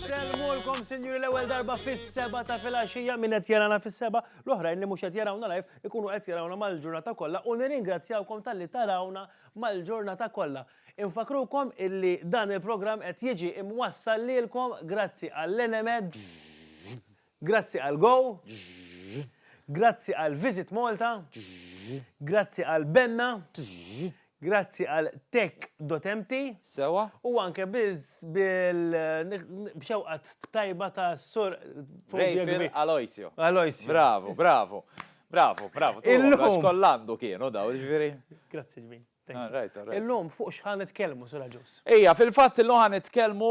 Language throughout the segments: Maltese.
Insellmulkom sinjuri l-ewwel darba fis-seba ta' filgħaxija min qed jarana fis-seba, l-oħrajn li mhux qed jarawna live ikunu qed jarawna mal-ġurnata kollha u nirringrazzjawkom talli tarawna mal-ġurnata kollha. Infakkrukom illi dan il-programm qed jiġi imwassal lilkom grazzi għall-Enemed, grazzi għal Go, grazzi għal Visit Malta, grazzi għal Benna, grazzi għal Tech.mt, Sewwa. u anke biz bil b'xewqa tajba ta' Sur Rejfil Aloisio. Aloisio. Bravu, bravu. Bravu, bravu. Illum. Għax koll għandu kienu daw, ġifieri. Grazzi ġmiel. Illum fuq x'ħa nitkellmu, Sur Agius? Ejja, fil-fatt illum ħa nitkellmu,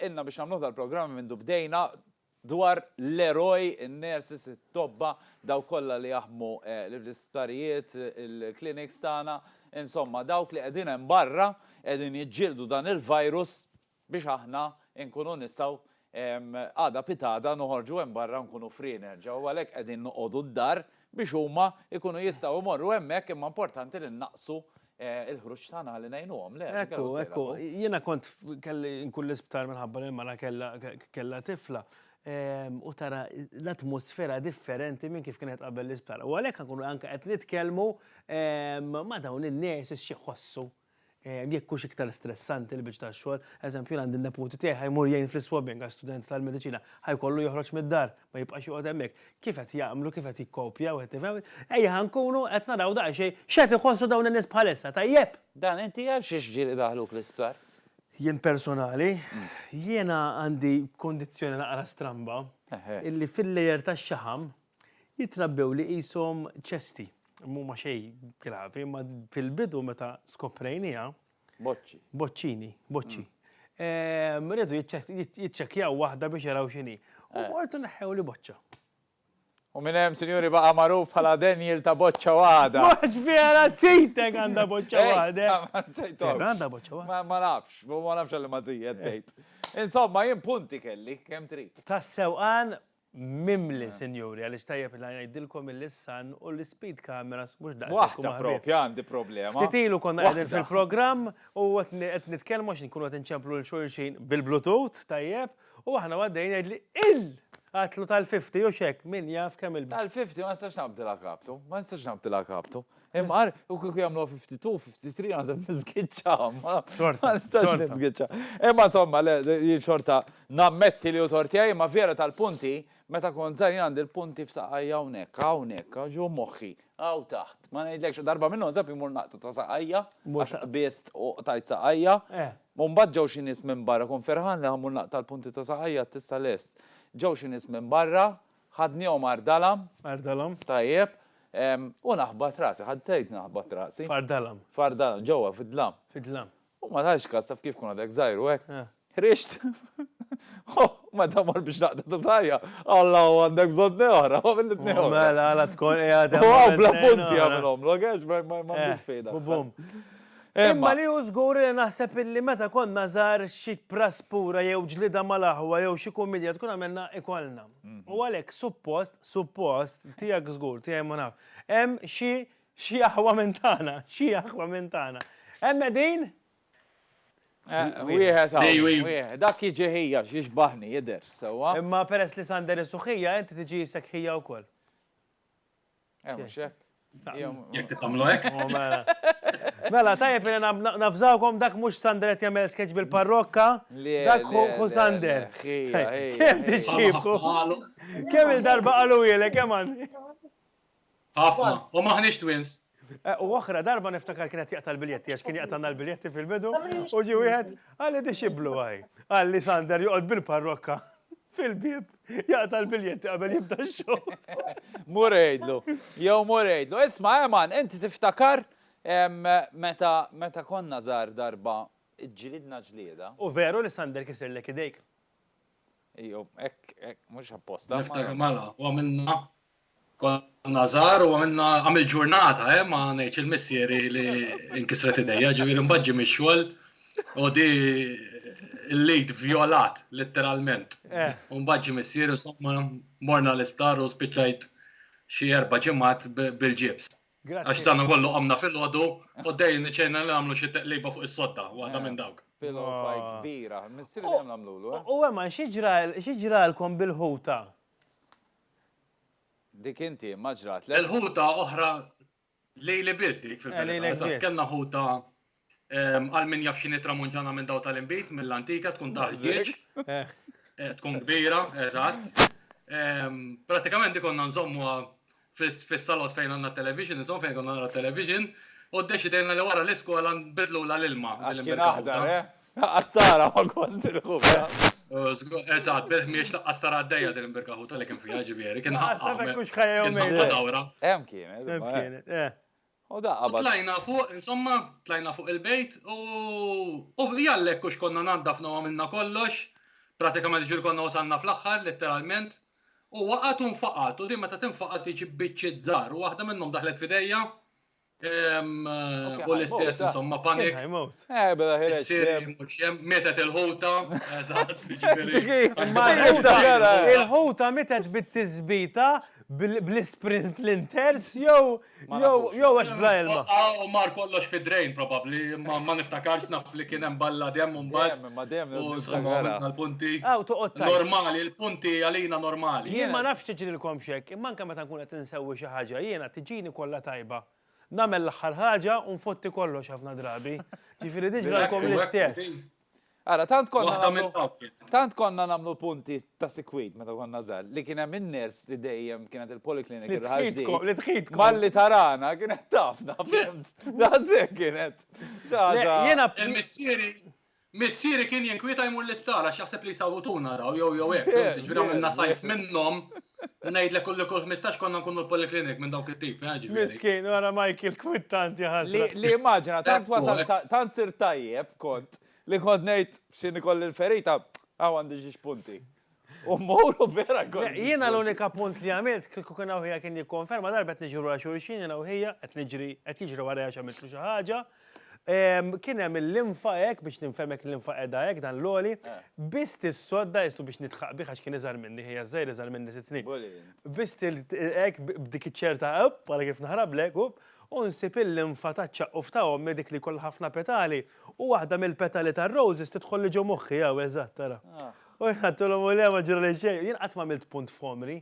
ilna biex nagħmluh dal-programm mindu bdejna, dwar l-eroj, in-nurses, it-tobba, dawk kollha li jaħdmu l-isptarijiet, il-clinics tagħna, insomma dawk li qegħdin hemm barra, qegħdin jiġġieldu dan il-virus biex aħna nkunu nistgħu għada pitgħada noħorġu hemm barra nkunu free nerġa' u għalhekk qegħdin noqogħdu d-dar biex huma jkunu jistgħu jmorru hemmhekk imma importanti li nnaqqsu l-ħruġ tagħna ħalli ngħinuhom, le? Ekku, ekku. Jiena kont kelli nkun l-isptar minħabba li l-mara kellha tifla u tara l-atmosfera differenti minn kif kienet qabel l-isptar. U għalhekk nkunu anke qed nitkellmu ma' dawn in-nurses xi jħossu. Jekk hux iktar stressanti l-biċċ tax-xogħol, eżempju jien għandi n-neputi tiegħi ħa jmur jgħin fl-iswabbing għax student tal-mediċina, ħa jkollu joħroġ mid-dar, ma jibqax joqgħod hemmhekk. Kif qed jagħmlu, kif qed jikkopja wieħed tifhem? Ejja ħa nkunu qed naraw daqsxejn x'qed iħossu dawn in-nies bħalissa, tajjeb? Dan inti għal xiex ġieli idaħħluk l-isptar? Jien personali, jiena għandi kundizzjoni naqra stramba, illi fil-layer tax-xaħam, Jitrabbew li qishom ċesti. M'huma xejn gravi, imma fil-bidu meta skoprejnieha. Boċċi. Boċċini, boċċi. Ehm, rridu jiċċekkjaw waħda biex jaraw x'inhi. U mortu eh. neħħew li boċċa. U minn hemm sinjuri baqa' magħruf bħala Daniel ta' boċċa waħda. Mhux vera tsitek għandha boċċa waħda. Għandha boċċa waħda. Ma nafx, ma nafx għalli ma żijed tgħid. Insomma, jien punti kelli kemm trid. Tas-sewqan mimli, sinjuri, għaliex tajjeb li ngħidilkom illi s-sun u l-ispeed cameras mhux daqshekk huma ħbieb. Waħda proprja għandi problema. Ftit ilu konna qegħdin fil-programm u qed nitkellmu għax inkunu qed inċemplu lil xulxin bil-bluetooth, tajjeb, u aħna u għaddejjin jgħidli, il! Għatlu tal-50 u x'hekk, min jaf kemm il-. Tal-50 ma nistax naqbdilha kaptu, ma nistax naqbdilha kaptu. Imqar, u kieku jagħmlu 52, 53 għazem nizgitxa, ma nistax nizgitxa. Imma somma, jien xorta nammetti li u tortija, imma vera tal-punti, meta kont żgħar jien għandi l-punti f'saqajja hawnhekk, hawnhekk, ġo moħħi, hawn taħt. Ma ngħidlekx darba minnhom żab imur naqta ta' saqajja, għax qbiżt u qtajt saqajja. Eh. U mbagħad ġew xi nies minn barra, kont ferħan li ħammur naqta' l-punti ta' saqajja tissa lest. Ġew xi nies minn barra, Ħadnihom Ardalam. Ardalam. Tajjeb. U naħbat rasi. Ħadd tgħid naħbat rasi. F'Ardalam. F'Ardalam, ġewwa fid-dlam. Fid-dlam. U ma tgħidx każ taf kif tkun għadek żgħir u hekk. Eh. Ħriġt. Oh, meta mor biex naqta ta' sajja, Alla u għandek bżonn neħra, u għamil t-tneħra. Oh, mela, għala tkun għadem. U għaw bla punti għamilom, l-għax ma għandix eh, fejda. Bum. Imma li hu żgur li naħseb illi meta konna żgħar xi praspura jew ġlieda mal-aħwa jew xi kumidja tkun għamilna ikollna. U għalhekk suppost, suppost, tiegħek żgur, tiegħi ma naf, hemm xi xi aħwa minn tagħna, xi aħwa minn tagħna. Hemm qegħdin? Wieħed hawn. Dak jiġi ħija, jixbaħni, jidher sewwa. Imma peress li Sander isu ħija, inti tiġi sekk ħija wkoll. Eh, mhux hekk. Jekk tagħmlu hekk. Oh, mela. mela, tajjeb li nafżawkom dak mhux Sander qed jagħmel sketch bil-parrokka. Dak hu Sander. Kemm tixxiebku? Kemm il-darba qalu ilek kemm għandi? Ħafna, u maħniex twins. Eh, u oħra darba niftakar kienet jaqta l-biljetti, għax kien jaqtanna l-biljetti fil-bidu, u ġi wieħed għalli dixiblu għaj. Għalli Sander joqgħod bil-parrokka. fil-bieb jaqta' l-biljetti qabel jibda x-show. Mur għidlu, jew mur għidlu. Isma' Eman, inti tiftakar meta konna żgħar darba ġlidna ġlieda. U veru li Sander kisirlek idejk. Ejjew, hekk, hekk, mhux apposta. Niftakar mela, u għamilna Konna żgħar u għamilna għamil ġurnata, eh, ma ngħidx il-missieri li nkisret idejja, ġifieri mbagħad ġie mix-xogħol u di l-lid vjolat letteralment. Eh. U mbagħad ġie missieri insomma morna l-isptar u spiċċajt xi erba' ġimgħat bil-ġibs. Għax dan kollu għamna fil-ħodu, u dej niċċejna li għamlu xie teqliba fuq is-sodda, waħda eh. minn dawk. Pillow ah. fight kbira, missir li għamlu l eh? U għemma, xieġralkom bil-ħuta? Dik inti, ma ġratlek? Il-ħuta oħra lili biss dik fil-verità. Eżatt, kellna ħuta għal min jaf x'inhi tramuntana minn dawn tal-inbid, mill-antika, tkun ta' ħġieġ, tkun kbira, eżatt. Prattikament dik konna nżommuha fis-salott fejn għandna t-television, insomma fejn konna naraw it-television, u ddeċidejna li wara l-iskola nbiddlulha l-ilma. Għax kien aħdar, eh? Laqqas tara ma kont il-ħuba. Eżat, bih miex laqqas tara għaddejja din il-birka ħuta li kien fija ġivieri. Kien ħafna. Kux ħajja jom. Kien ħafna dawra. Hemm kienet. Hemm kienet, eh. U daqqa. Tlajna fuq, insomma, tlajna fuq il-bejt u u jallek kux konna naddafna u għamilna kollox. Pratikament ġil konna wasalna fl-axħar, letteralment. U waqat un faqat, u din meta tinfaqat iġib biċċiet żgħar, u waħda minnhom daħlet f'idejja. U l-istess, insomma, panik. Eh, bela ħireċ. Mietet il-ħuta. Il-ħuta mietet bit-tizbita bl-sprint l-inters jew jew għax bla ilma. U mar kollox fi drejn probabli, ma niftakarx naf li kien hemm balla dem u mbagħad. Ma dem, u insomma, l-punti. Normali, l-punti għalina normali. Jien ma nafx tiġrilkom xek. Imma anke meta nkun qed insewwi xi ħaġa jiena tiġini kollha tajba. Nagħmel l-aħħar ħaġa u nfotti kollox ħafna drabi. Ġifieri din ġralkom l-istess. Ara, tant konna nagħmlu tant konna nagħmlu punti ta' sikwit meta konna żgħar li kien hemm in-ners li dejjem kienet il-poliklinik il-ħaġdi. Li tħidkom. Malli tarana kienet tafna. Daqshekk kienet. Jiena missieri Missieri kien jinkwieta jmur l-isptar għax jaħseb li jsawwtuna daw jew jew hekk, Yeah, ġifieri għamilna yeah, sajf yeah. minnhom. Ngħidlek kull kull 15 konna nkunu l-poliklinik minn dawk it-tip, eh, ġifieri. Miskin, wara Michael kwittanti Li, ħasra. li immaġina, tant Ekku, wasal, ekku. ta- tant sir tajjeb kont, li kont ngħid x'inhi kolli l-ferita, hawn għandi xi xpunti. U mowru vera għol. Jiena l-unika punt li għamilt, kieku kien għawħija kien jikkonferma darbet niġru għal xurxin, jiena għawħija, għet niġri, għet jiġri għarajja xamiltlu xaħġa. Kien hemm l-infa hekk biex ninfemek l-infa qiegħda hekk dan l-għoli, biss tissodda jislu biex nitħaq bih għax kien iżgħar minni, ħija żgħir iżgħar minni sitt snin. Biss hekk b'dik iċ-ċerta up, bħala kif naħrablek, up, u nsib il-linfa taċ-ċaqquf ta' ommi dik li jkollha ħafna petali, u waħda mill-petali tar-roses tidħolli ġo moħħi, hawn, eżatt, ara. U jien għedtilhom u le ma ġrali xejn, jien qatt m'għamilt punt f'għomri.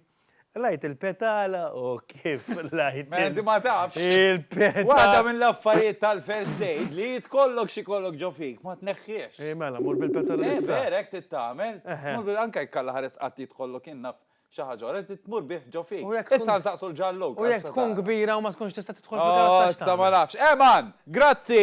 Lgħajt il-petala u kif lgħajt. Mela inti ma tafx. Il-petala. Waħda mill-affarijiet tal-first aid li tkollok xi jkollok ġo fik ma tneħħiex. Ej mela mur bil-petala l-isptar. Ej vera hekk trid tagħmel. Mur bil anke jekk Alla ħares qatt jidħollok jien naf xi ħaġa oħra trid tmur bih ġo fik. Issa nsaqsu l-ġallug. U jekk tkun kbira u ma tkunx tista' tidħol fil-karozza x'tagħmel? Issa ma nafx. Eman! Grazzi!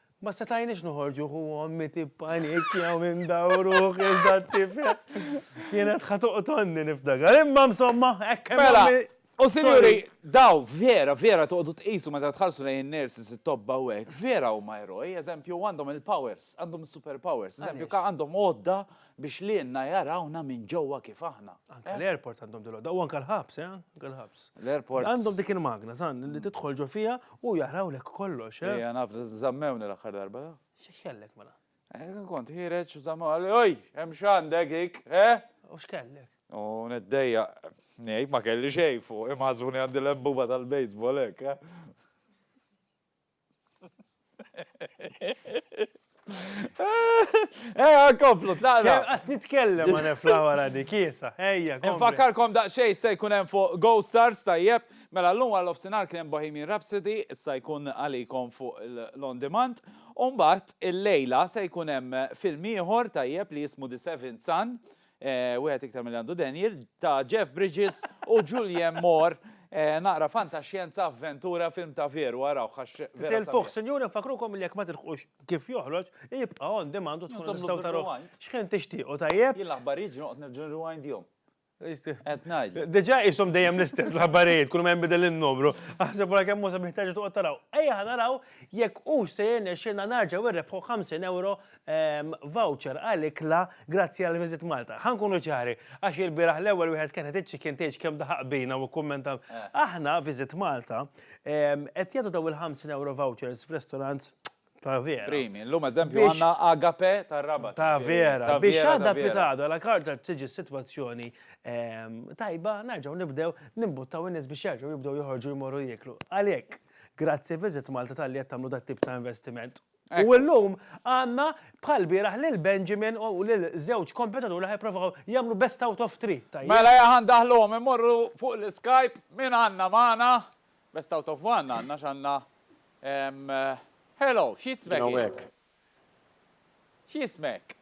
Ma setajniex noħorġu hu ommi tippanikja u indaw ruħi għal dat-tifel. Kienet ħa toqtolni niftakar. Imma msomma, hekk hemm Mela, ommi. u sinjuri, daw vera, vera toqgħodu tqisu meta tħarsu lejn in-nurses, it-tobba u hekk, vera huma eroj, eżempju, għandhom il-powers, għandhom is-superpowers, eżempju, Għaliex? għandhom għodda Biex lilna jarawna minn ġewwa kif aħna. Anke l-airport għandhom dil-għodda u anke l-ħabs, eh, anke l-ħabs. L-airport. Għandhom dik il-magna, żgħan, li tidħol ġo fiha u jarawlek kollox, eh. Ejja, naf, żammewni l-aħħar darba. Xi kellek mela? Eh, kont ħireġ u żammew għalli, oj, hemm x'għandek ik, eh? U x'kellek? U neddejja, ngħid ma kelli xejn fuq, imħasbuni għandi l-embuba tal-baseball hekk, eh? Eja, komplu, tlaqna. Għas nitkellem għan flawara di kiesa. Eja, komplu. Nfakkarkom daqxej se jkun hemm fuq Go Stars tajjeb. Mela l-lum għal ofsinar kien hemm Bohemian Rhapsody, issa jkun għalikom fuq l-on demand. Umbat il-lejla se jkun hemm film ieħor tajjeb li jismu The Seventh Son wieħed iktar milli għandu denjel, ta' Jeff Bridges u Julianne Moore, naqra fantaxjenza, avventura, film ta' veru, arawh għax vera sabiħ. Titilfuh, sinjuri, nfakkrukom li jekk ma tilħqux kif joħroġ, jibqa' on demand u tkunu Nagħmlu tistgħu tarawh rewind. x'ħin tixtiequ, tajjeb? Jien l-aħbarijiet ġieli noqgħod nerġa' nirewindjhom. Qed ngħidlek. Diġà qishom dejjem l-istess l-aħbarijiet, kull ma jinbidel in-numru. Aħseb wara kemm hu sabiħ terġa' toqgħod taraw. Ejja ħa naraw jekk hux se jirnexxielna nerġgħu nrebbħu 50 ewro voucher għal ikla grazzi għal Visit Malta. Ħa nkunu ċari, għax ilbieraħ l-ewwel wieħed kien qed iċ-chicken tgħidx kemm daħaq bina u kkummenta. Aħna, Visit Malta, qed jagħtu dawn il-ħamsin ewro vouchers f'restaurants ta' vera. Primi. Illum eżempju għandna Agape tar-Rabat. Ta' vera. Biex għadha pitgħada la karta tiġi s-sitwazzjoni tajba, nerġgħu nibdew nimbuttaw in-nies biex jerġgħu jibdew joħorġu jmorru jieklu. Għalhekk, grazzi Visit Malta talli qed tagħmlu dat-tip ta' investiment. U illum għandna bħal lbieraħ lil Benjamin u lil żewġ kompetituri li ħa jipprovaw jagħmlu best out of three, tajjeb? Mela jekk ħa ndaħħluhom immorru fuq l-Skype min għandna magħna? Best out of one għandna għax għandna Hello, x'jismek int? Hawnhekk. X'jismek?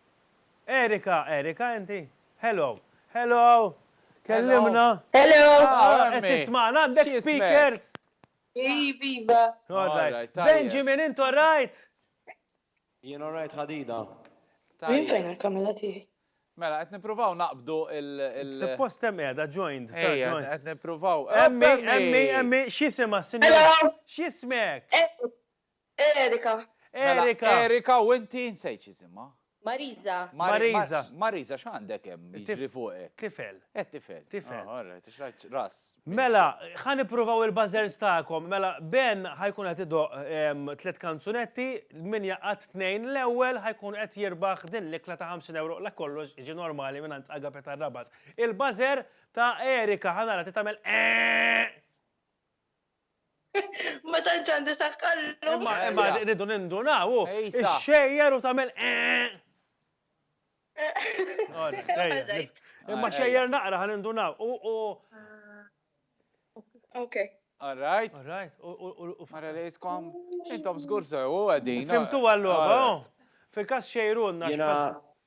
Erika, Erika inti? Hello, hello, kellimna. Hello. Qed tismagħna għandek speakers? X'jismek? Iviva! Alright, Benjamin, int alright? Jien alright ħadida. Jien fejn il-kamera tiegħi? Mela, qed nippruvaw naqbdu il- Suppost hemm qiegħda joined. Ejja, qed nippruvaw. Emmi, emmi, emmi, x'jisimha s-sinjura? X'jismek? Erika. Erika. Mela, Erika u inti nsejt x'isimha. Marisa. Marisa. Marisa x'għandek hemm jiġri fuqek? Tifel. Eh tifel. Tifel. All right, għax rajt ras. Mela, ħa nippruvaw il-buzzers tagħkom. Mela, Ben ħa jkun qed idoqq tliet kanzunetti, min jaqgħad tnejn l-ewwel ħa jkun qed jirbaħ din l-ikla ta' 50 ewro la kollox jiġi normali mingħand Agape tar-Rabat. Il-buzzer ta' Erika ħa nara ti tagħmel eehh! Ma tantx għandi saħħallu. Ma ma rridu nindunaw. Xejjer u tagħmel eh. Imma xejjer naqra ħan indunaw. Ok. All right. All right. U fara li jiskom. Intom zgur sew u għadin. Fimtu għallu. Fil-kas xejrunna.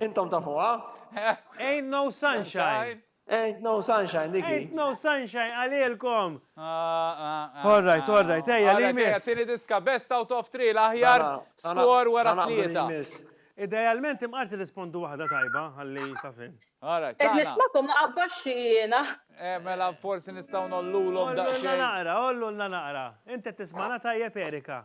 Intom tafuha? Ain't no sunshine. Ain't no sunshine, diki. Ain't no sunshine, għalilkom. All right, all right, ejja, li miss. Tini diska, best out of three, l-aħjar skor wara tlieta. Idealment imqarti rispondu waħda tajba, għalli ta' fin. All right, tana. Nismakom naqabba xina. Eh, mela, forsi nistaw nollulom da' xejn. Ollu naqra, ollu naqra. Inti tismana tajjeb Erika.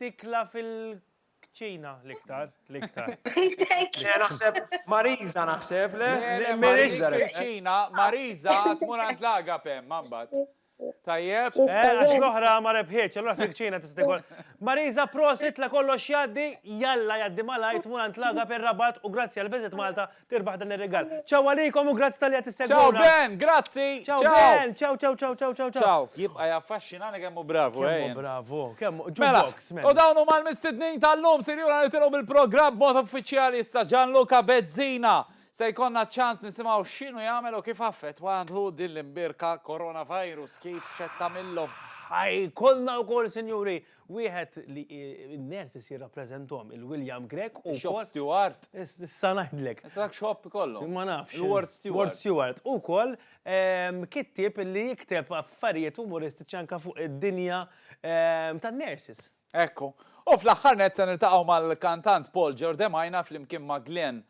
Tikla fil-kċina l-iktar, l-iktar. Le naħseb Marisa naħseb le. Le Marisa rebħet. M'iniex fil-kċina, Marisa tmur għand l-Agape ma mbagħad. Tajjeb? Eh, għax l-oħra ma rebħietx, allura fil-kċina tista' tikol. Marisa prosit la kollox jgħaddi, jalla jgħaddi malajr tmur għand l-Agape r-Rabat u grazzi għall-Visit Malta Tirbaħ dan ir-rigal. Ciao għalikom u grazzi tal-li qed issegwuna. Ciao Ben, grazzi. Ciao Ben, ciao ciao ciao ciao ciao. Ciao, jibqa' jaffaxxinani kemm hu bravu eh. Kemm hu bravu, kemm hu. Mela, u dawn huma l-mistednin tal-lum, sinjura nitilgħu bil-programm b'mod uffiċjali issa Gianluca Bezzina. Se jkollna ċans nisimgħu x'inhu jagħmel u kif affettwa għandu din l-imbirka coronavirus kif xed tagħmilhom. Ħaj, kollna wkoll sinjuri Wieħed li n-nurses jirrappreżenthom, il-William Grech u. Shop steward? Issa ngħidlek. Issa dak shop ikollhom. Ma nafx. Il-ward steward. Ward steward. U wkoll kittieb li jikteb affarijiet umoristiċi anke fuq id-dinja tan-nurses. Ekku. U fl-aħħar nett se niltaqgħu mal-kantant Paul Giordemajna flimkien ma' Glen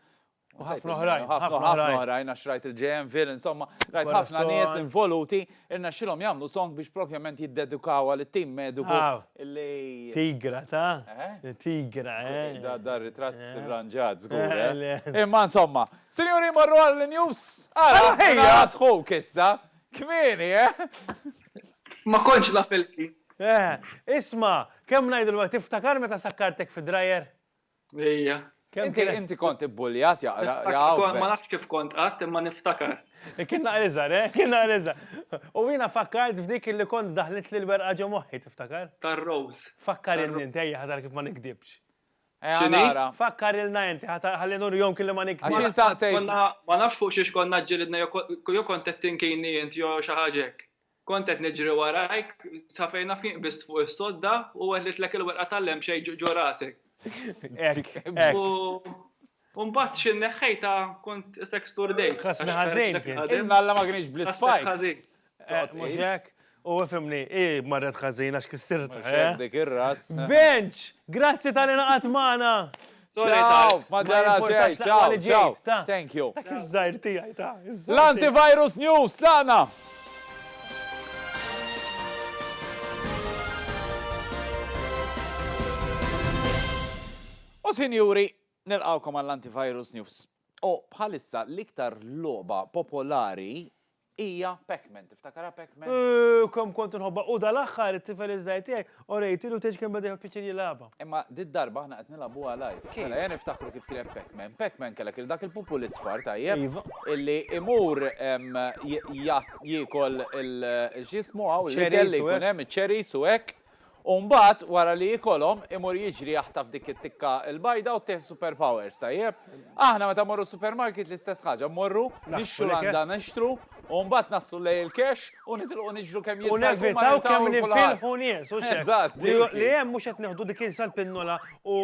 U ħafna oħrajn. Ħafna oħrajn, għax rajt il-JM Ville, insomma, rajt ħafna nies involuti, irna xilom jamlu song biex propjament jiddedukaw għal tim mediku. Tigra, ta? Eh? Tigra, eh? Da, da, ritrat eh? ranġat, zgur, eh? Imma, insomma, sinjuri marru għall-news, għara, għara, għadħu kissa, kmini, eh? Ma konċ la filki. Eh, isma, kem najdu l-għu, tiftakar meta sakkartek fi drajer? Ejja. Inti kont ibbuljat jaqra. Ma nafx kif kont qatt imma niftakar. Kien naqra iżgħar, eh? Kien naqra iżgħar. U jiena fakkart f'dik li kont daħlitli l-werqa ġo moħħi, tiftakar? Tar-rowż. Fakkarilni int ejja ħadar kif ma nikdibx. X'inhi? Fakkarilna inti ħalli nurihom kelli ma nikdibx. Għax insaqsejt. Ma nafx fuq xiex konna ġġilidna jew kont qed tinkini int jew xi ħaġa hekk. Kont qed niġri warajk, sa fejn naf jien qbist fuq is-sodda u weħlitlek il-werqa tal-lemxej ġo rasek. Hekk, hekk. U mbagħad xi nneħħejtha kont isek sturdejt. Ħassni ħażin. Il-malla ma kienx bl-ispikes. Mhux hekk? U fimni, hi marret ħażin għax kissirtha. Mhux hekk dik ir-ras. Benċ! Grazzi tal-li ingħaqadt magħna! Ciao, ma ġara xejn, ciao, ciao. Thank you. Dak iż-żgħir tiegħi ta'. L-antivirus news tagħna. U sinjuri, nilqgħukom għall-antivirus news. U bħalissa l-iktar logħba popolari Hija Pac-Man, tiftakarha Pac-Man? Ooh, kemm kont inħobbha u dal-aħħar it-tifel iż-żgħir tiegħi orejtilu tgħidx kemm beda jieħu pjaċir jilgħabha. Imma did-darba aħna qed nilgħabuha live. Kif? Mela ejja niftakru kif kienet Pac-Man. Pac-Man kellek lil dak il-pupu l-isfar, tajjeb? Iva. Illi imur jiekol il-x'jismu hawn l-ikel li jkun hemm, iċ-cherries u hekk. U mbagħad wara li jikolhom imur jiġri jaħtaf dik it-tikka l-bajda u ttih super powers, tajjeb? Aħna meta mmorru supermarket l-istess ħaġa, mmorru nixxu landa nixtru u mbagħad naslu lejn il-cash u nitilqu niġru kemm jista' jkun ma niltaqgħu lil kulħadd. U nevitaw kemm ninfilħu nies, hux hekk? Eżatt, dik hi. Li hemm mhux qed nieħdu dik il-sa l-pinnola u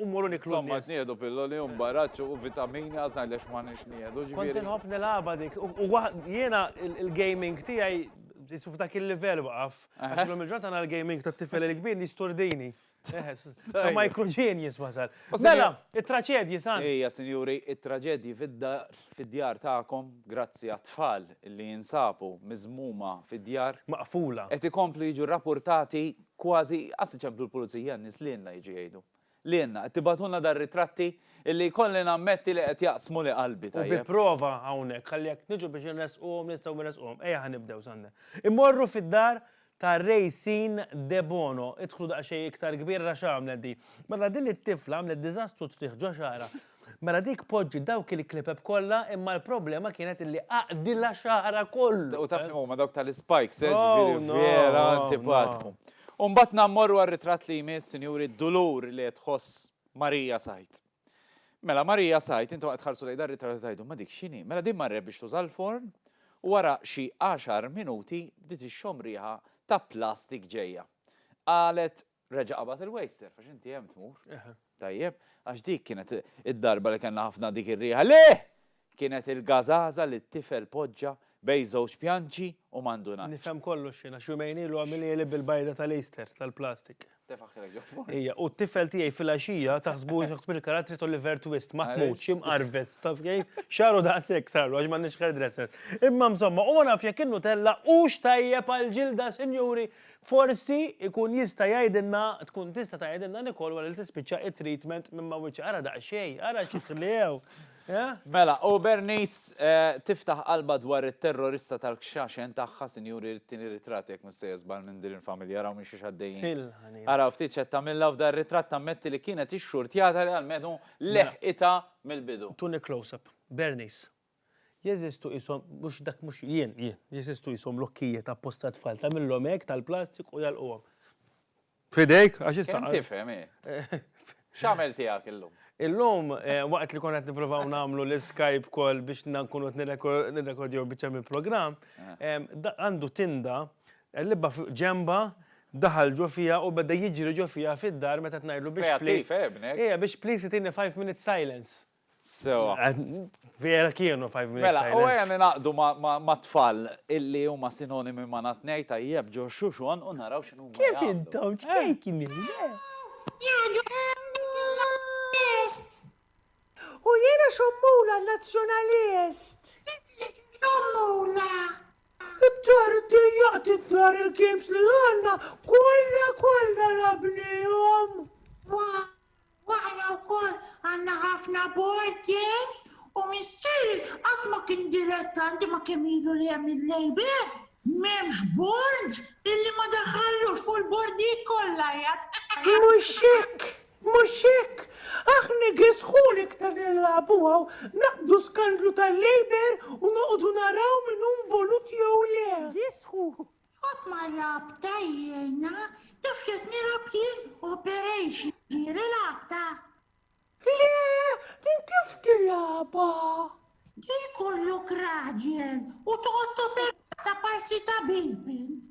mmorru niklu n-nies. Insomma qed nieħdu pilloli u mbaraċċ u vitamini ħa ngħidlek x'ma għandniex nieħdu, ġifieri. Kont inħobb nilgħabha dik. U jiena l-gaming tiegħi qisu f'dak il-livell waqaf. Għax illum il-ġurnata għandna l-gaming tat-tifel il-kbir li jsturdini. Sa microgenius wasal. Mela, it-traċedji san. Ejja, sinjuri, it-traġedji fid-dar, fid-djar tagħkom, grazzi għat-tfal li jinsabu miżmuma fid-djar. Maqfula. Qed ikomplu jiġu rrapurtati kważi, qas iċemplu l-pulizija, n-nies lilna jiġu jgħidu. Lienna, qed tibagħtulna dar ritratti illi jkolli nammetti li qed jaqsmu li qalbi tajjeb. U bi prova hawnhekk, ħalli jekk niġu biex inressquhom nistgħu nressquhom. Ejja ħa nibdew Sunday. Immorru fid-dar ta' Racine Debono. Idħlu daqsxejn iktar kbir ara x'għamlet di. Mela din it-tifla għamlet diżastru triħ ġo xagħarha. Mela dik poġġi dawk il-klepeb kollha imma l-problema kienet illi għaqdilha xagħarha kollu. U taf li huma dawk tal-ispikes, eh, ġifieri vera antipatku. U mbagħad nammorru għar-ritratt li jmiss, sinjuri, d-dulur li qed tħoss Marija Said. Mela Marija Said, intom qed tħarsu lejn dar-ritratt u tgħidu ma dik x'inhi? Mela din marret biex tuża l-forn u wara xi għaxar minuti bdiet ixxomm riħa ta' plastik ġejja. Qalet Reġa' qabad il-wejster, għax inti hemm tmur. Tajjeb, għax dik kienet id-darba li kellna ħafna dik ir-riħa li kienet il-gażaża li t-tifel poġġa bejn żewġ pjanċi u ma ndunatx. Nifhem kollox jien, għax jumejn ilu għamilieli bil-bajda tal-Easter, tal-plastik. Tefaħħilek ġo furn. Ija, u t-tifel tiegħi fil-għaxija taħsbu jaħsbu li karattri t'Oliver Twist, maħmud, xi mqarvez, taf kif? Xagħru daqshekk sarlu għax m'għandniex hairdressers. Imma msomma, u ma nafx jekk in-Nutella hux tajjeb għall-ġilda, sinjuri, Forsi jkun jista' jgħidilna, tkun tista' tgħidilna Nicole wara li tispiċċa it-treatment minn ma wiċċ ara daqsxejn, ara xi ħliew, eh? Mela, u Bernice tiftaħ qalbha dwar it-terrorista tal-kxaxen tagħha, sinjuri jrid tieni ritratt jekk mhux sejjer żball minn din il-familja, araw minn xiex għaddejjin. Il-ħanina. Araw ftit x'qed tagħmilha u f'dan ir-ritratt tammetti li kienet ixxurtjata li almenu leħqitha mill-bidu. Tuni close-up. Bernice. Jeżistu qishom, mhux dak mhux jien, jien, jeżistu qishom lokkijiet apposta għat-tfal, tagħmilhom hekk tal-plastik u jagħlquhom. F'idejk, għax issa. Kemm tifhem, hi? X'għamel tiegħek illum? Illum, waqt li konna qed nippruvaw nagħmlu l-Skype call biex nkunu qed nirrekordjaw biċċa mill-programm, għandu tinda, qellibha ġenbha, daħal ġo fiha u beda jiġri ġo fiha fid-dar meta qed ngħidlu biex please. Kreattiv, hi, ibnek? Hi, biex please tini five minutes silence. Sewa. Vera kienu 5 minutes Mela, u silence. għajani naqdu ma- ma- ma' tfal illi huma sinonimi ma' na tnej tajjeb ġo xuxon u naraw x'inhu huma Kif jagħmlu. intom ċkejknin, le? Jgħidu l-Laburist. U jiena xommula Nazzjonalist. Tiflek xommula. Id-dar dejjaq tiddar il-games li għandna kollha kollha rabnihom. Wow! U aħna wkoll għandna ħafna board games u missieri qatt ma kien dilettanti ma' kemm ilu li hemm il-Labour. M'hemmx board illi ma daħħallux fuq il-bordijiet kollha qiegħed. Mhux hekk! Mhux hekk! Aħna igisħu l-iktar li nilagħbu hawn, naqbdu skandlu tal-Labour u noqogħdu naraw min hu involut jew le. Igisħu! Qatt ma rabta jiena, taf x'qed nilgħab jien u Perejx jiġieli l-għabta? Le, din kif tilgħabha? Di jkollok raġel u toqgħod toperata parsi ta' bilbint.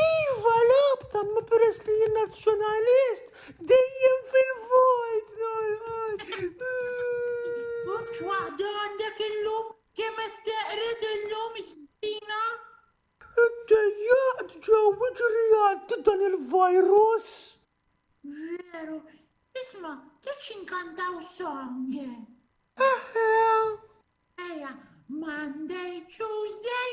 Iva l-għabta imma peress li jien Nazzjonalist dejjem fil-vojt nolqot. Ux waħda għandek illum kemm qed teqred illum is-stina? Iddejjaqt ġew iġri għaddi dan il-virus. Veru, isma' tridx inkantaw song? Eħe. Eja, Monday, Tuesday,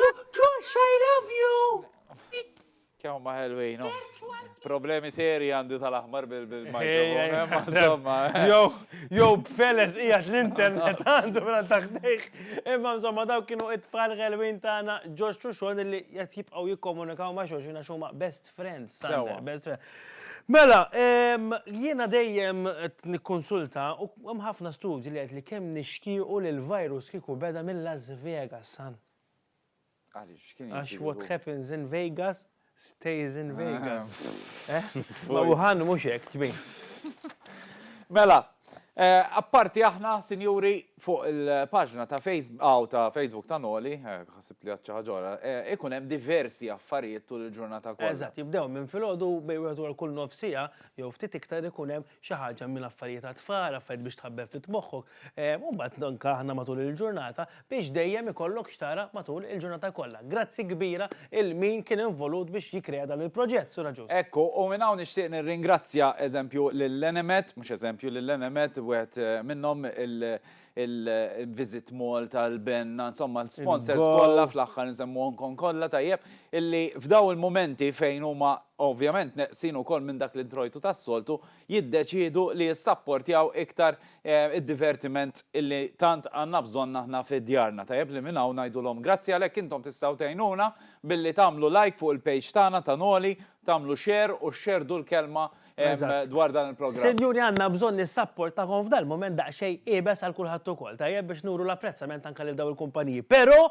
Josh, I love you! Kemm ma ħelwin, no? Problemi seri għandi tal-aħmar bil-mikrofon, ma insomma. Jow, jow, b'feles ijat l-internet għandu mela taħdejħ. Imma insomma daw kienu it-tfal ħelwin tagħna Josh Xuxon li qed jibqgħu jikkomunikaw ma' xulxin għax huma best friends, Sander, best friends. Mela, jiena dejjem nikkonsulta u hemm ħafna studji li qed li kemm nixtiequ li l-virus kieku beda minn Las Vegas, san. Għaliex kien Għax what happens in Vegas stays in Vegas. Eh? Ma Wuhan mhux hekk tbin. Mela, Apparti aħna, sinjuri, fuq il-paġna ta' Facebook ta' Noli, ħsibt li għedt xi ħaġa oħra, ikun hemm diversi affarijiet tul il-ġurnata kollha. Eżatt, jibdew minn filgħodu bejn wieħed u għal kull nofs siegħa jew ftit iktar ikun hemm xi ħaġa minn affarijiet għat-tfal, affarijiet biex tħabbeb ftit moħħok, u mbagħad anke aħna matul il-ġurnata. biex dejjem ikollok x'tara matul il-ġurnata kollha. Grazzi kbira 'l min kien involut biex jikkrea dan il-proġett, Sur Agius. Hekk hu, u minn hawn nixtieq nirringrazzja, eżempju, lil Enemed, mhux eżempju, lil Enemed, wieħed minnhom, il-Visit Malta, il-BENNA, insomma l-sponsors kollha, fl-aħħar insemmuhomkom kollha, tajjeb, illi f'dawn il-mumenti fejn huma ovvjament neqsin ukoll minn dak l-introjtu tas-soltu, jiddeċiedu li jissapportjaw iktar id-divertiment li tant għandna bżonn aħna fi djarna. Tajjeb li minn hawn ngħidulhom grazzi għalhekk intom tistgħu tgħinuna billi tagħmlu like fuq il-page tagħna ta' Noli, tagħmlu share u xxerdu l-kelma dwar dan il-programm. Sinjuri għandna bżonn is-sapporttakom f'dal-mument daqsxejn iebes għal kulħadd ukoll, tajjeb biex nuru l-apprezzament anke lil dawn il-kumpaniji. Pero!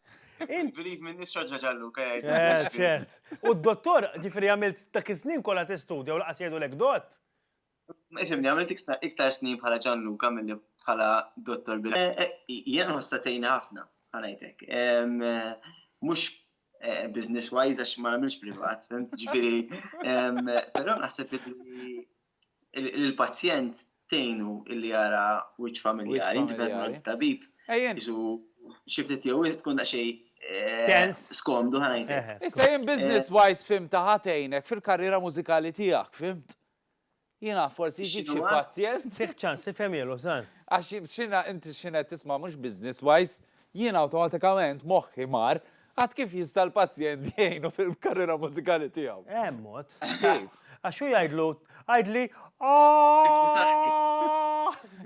Believe me, nisra ġaġalluka. Eh, ċert. U d-dottor, ġifri għamilt ta' kisnin kolla t-istudja u laqas jgħidu l-ek dott? Ifimni, għamilt iktar snin bħala ġanluka mill bħala dottor bil. Eh, eh, Jien ħossatejna ħafna, ħanajtek. Mux eh, business wise għax ma għamilx privat, fimt ġifiri. Pero naħseb li il-pazjent tgħinu illi jara wiċċ familjari, inti qed mort tabib. Ejjen. Xi ftit jew tkun daqsxejn eh, Tens. skomdu ħajtek. Eħe, skum. Issa jien business wise fim ta' ħatejnek fil-karriera mużikali tiegħek, fimt? Jiena forsi jġib xi X'inhuwa? pazjent. Tih ċans tifhem jelu, san. Għax xina inti xina tisma' mhux business wise, jiena awtomatikament moħħi mar Għad kif jista' l-pazjent jgħinu fil-karriera mużikali tiegħu? Hemm mod. Kif? Għax hu jgħidlu, għidli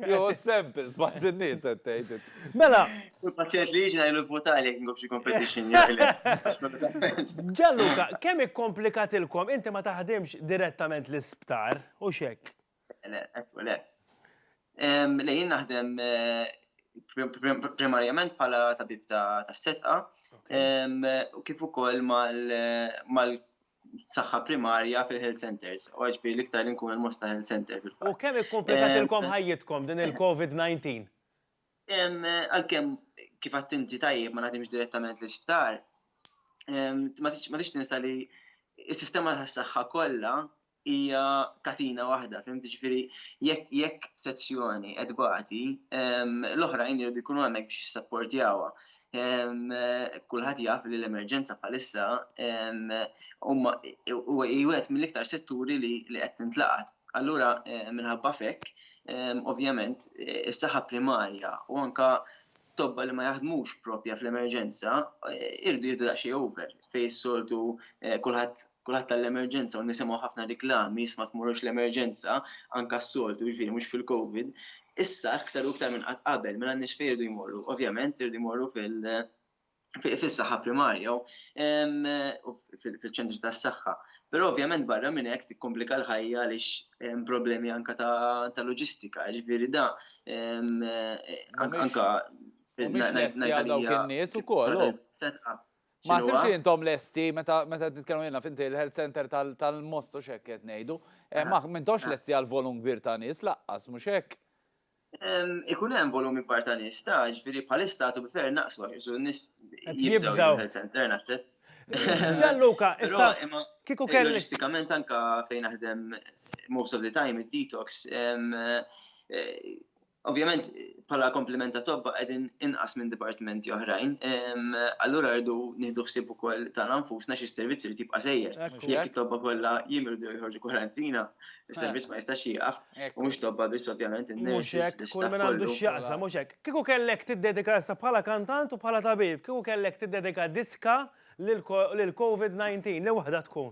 Jo samples ma' din-nies qed tgħid. Mela. Kull pazjent li jiġi ngħidlu vvutali jekk nkun f'xi competition jaqleb. Gianluca, kemm ikkomplikatilkom, inti ma taħdimx direttament l-isptar, hux hekk? Le, ekku, le. Le, jien naħdem primarjament bħala tabib ta' setqa u kif ukoll mal saħħa primarja fil-health centers, u għagħbi l-iktar inkun il-mosta health center fil-fatt. U kemm ikkomplikat ilkom ħajjitkom din il-COVID-19? Għal-kem kif għattinti tajjeb ma naħdimx direttament l-isptar, ma tix tinsa li il-sistema ta' s-saxħa kolla hija katina waħda, fim ġifiri, jekk sezzjoni qed bagħti, l-oħrajn jridu jkunu hemmhekk biex jissapportjawha. Kulħadd jaf li l-emerġenza bħalissa huma jwet mill-iktar setturi li qed tintlaqat. Allura minħabba fekk, ovvjament, is-saħħa primarja u anka tobba li ma jaħdmux propja fl-emerġenza jridu jieħdu daqsxejn over fejn is-soltu kulħadd kulħadd għall-emerġenza u nisimgħu ħafna riklami, issa ma tmorrux l-emerġenza, anke s-soltu, jiġifieri mhux fil-Covid. Issa aktar u aktar minn qatt qabel, mela n-nies fejn iridu jmorru? Ovvjament iridu jmorru fil- fis-saħħa primarja u fil-ċentri tas-saħħa. Però ovvjament barra minn hekk tikkomplika l-ħajja għaliex hemm problemi anke ta' loġistika, jiġifieri da anke ngħid għalija. Mhumiex lesti għal dawk in-nies ukoll. Ma X'inhuwa? ħsibx li intom lesti meta meta qed nitkellmu jiena finti l-health center tal- tal-most u x'hekk qed ngħidu. Eh, Ma m'intomx Ah. lesti għal volum kbir ta' nies laqqas, mhux hekk? Em, Ikun hemm volum ikbar ta' nies ta' ġifieri bħalissa għadu bifer naqsu għax isu n-nies Qed jibżgħu jibżgħu. jiġu l-health center naħseb. Gianluca, Però issa imma kieku kelli. loġistikament anka fejn naħdem most of the time id-detox em, eh, Ovvjament bħala kompliment ta' tobba qegħdin inqas minn dipartimenti oħrajn, allura rridu nieħdu ħsieb ukoll tagħna nfusna xi servizz irid jibqa' sejjer. Jekk it-tobba kollha jimrdu jew joħorġu kwarantina, is-servizz ma jistax jieqaf, u mhux tobba biss ovvjament, in-nurses, l-istaff kollu. Mhux hekk, kull min għandu x'jaqsam, mhux hekk. Kieku kellek tiddedika issa bħala kantant u bħala tabib, kieku kellek tiddedika diska lill-Covid 19, li waħda tkun?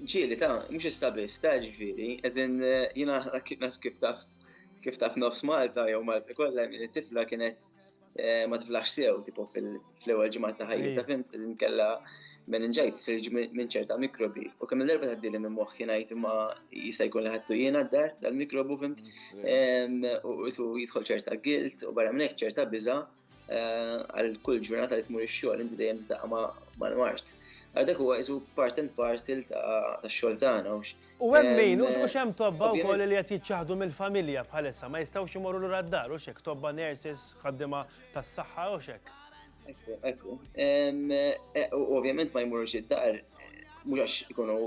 Ġieli ta', mhux issa biss ta' ġifieri, as in jiena kif taf kif taf nofs Malta jew Malta kollha li tifla kienet ma tiflax sew tipo fl-ewwel ġimgħat ta' ħajjitha fimt, as in kellha meningitis li jiġi minn ċerta mikrobi. U kemm il-darba tgħaddili minn moħħi ngħid imma jista' jkun li ħadtu jiena d-dar dal-mikrobu fimt, u qisu jidħol ċerta guilt u barra minn hekk ċerta biża'. għal kull ġurnata li tmur ix-xogħol inti dejjem titaqqa mal-mart. Għadek huwa isu part and parcel ta' xogħol tagħna. U hemm min, u mhux hemm tobba wkoll li qed jiċċaħdu mill-familja bħalissa ma jistgħux imorru lura d-dar u xek tobba nurses ħaddiema tas-saħħa u xek. Ekku, ekku. E, ovvjament ma jmurux id-dar, mhux għax ikunu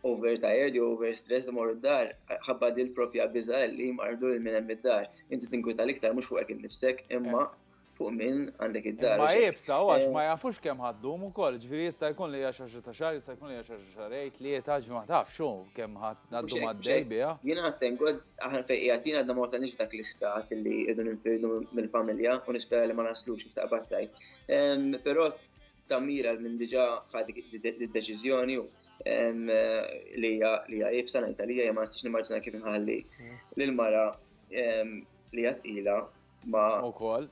overtired jew overstressed imorru d-dar, ħabba dil propja biża li mardu l-minem id-dar. Inti tinkwita l-iktar mhux fuqek innifsek, imma eh. fuq min għandek id-dar. Ma jibsa, u għax eh. ma jafux kemm ħaddum ukoll, ġifieri jista' jkun li hija xi ta' xahar, jista' jkun li hija xi xarej, tlieta, ġifieri ma tafx xu kemm ħaddum għaddej biha. Jien għattem god aħna fejn qiegħed jien għadna ma wasalniex dak l-istat li qegħdu ninfirdu mill-familja u nispera li ma naslux kif taqbad tajt. Ehm, però ta' mira minn diġa ħad id-deċiżjoni li hija ibsa ngħidha li hija ma nistax nimmaġina kif inħalli lil mara li hija tqila ma ukoll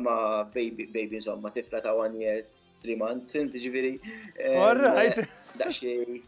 ma baby baby insomma tifla ta' one year three months, ġifieri. Alright. Daxxi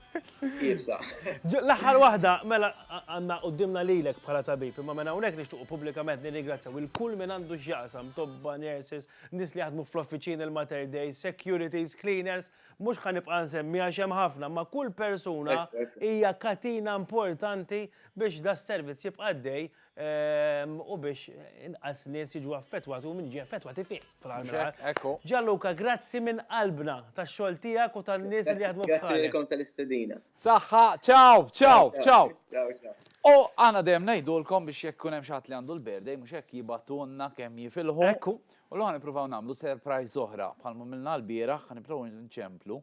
jibsa. L-aħħar waħda, mela għandna qudiemna lilek bħala tabib, imma minn hawnhekk nixtuq pubblikament nirringrazzjaw il-kull minn għandu x'jaqsam tobba nurses nies li jaħdmu fl-offiċini, l-Mater Dei, securities, cleaners, mhux ħa nibqa' nsemmi għax hemm ħafna, imma kull persuna hija katina importanti biex da s-servizz jibqa' għaddej ehm, u biex inqas nies jiġu affettwati u min jiġi affettwati fih fl-għalmar. Ġalluka, grazzi minn qalbna tax-xogħol tiegħek u tan-nies li jaħdmu f'ħalek. Grazzi tal-istedina. Saħħa, ciao, ciao, ciao. Ciao, ciao. U aħna dejjem ngħidulkom biex jekk ikun hemm xi ħadd li għandu l-birthday mhux hekk jibgħatulna kemm jifilħu. Ekku. U llum ħa nippruvaw nagħmlu surprise oħra bħalma għamilna l-bieraħ, ħa nipprovaw nċemplu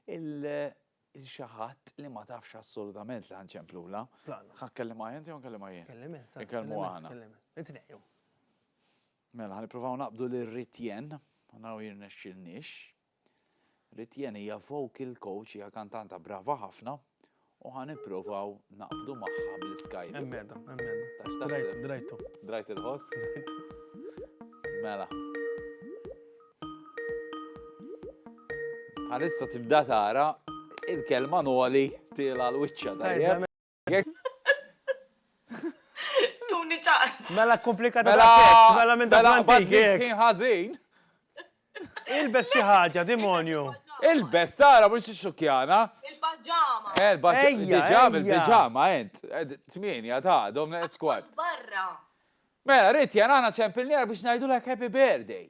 lil xi ħadd li ma tafx assolutament li ħa nċemplulha. Plana. Ħa tkellimha int jew nkellimha jien? Kellim int. Inkellmu aħna. Kellim int. It-tnejn jew. Mela ħa nippruvaw naqbdu lil Ritjen, naraw jirnexxilniex. Ritiene hija vocal coach, hija kantanta brava ħafna u ħa nippruvaw naqbdu magħha bl-Skype. Hemm qiegħda, hemm qiegħda. Tax taħseb? Drajtu. Drajt il-ħoss? Mela. Bħalissa tibda tara il-kelma noli tiela l-wiċċa tajjeb. Tuni ċaqs. Mela komplikata mela mela minn dak l-antik. Mela ħażin. Ilbes xi ħaġa, demonju. Ilbes, tara mhux xukjana. Il-paġama. Eh, il-paġama, il-paġama, ent. Eh, tmienja ta' domna eskwad. Barra. Mela, rrit jan għana ċempilnija biex najdu l happy birthday.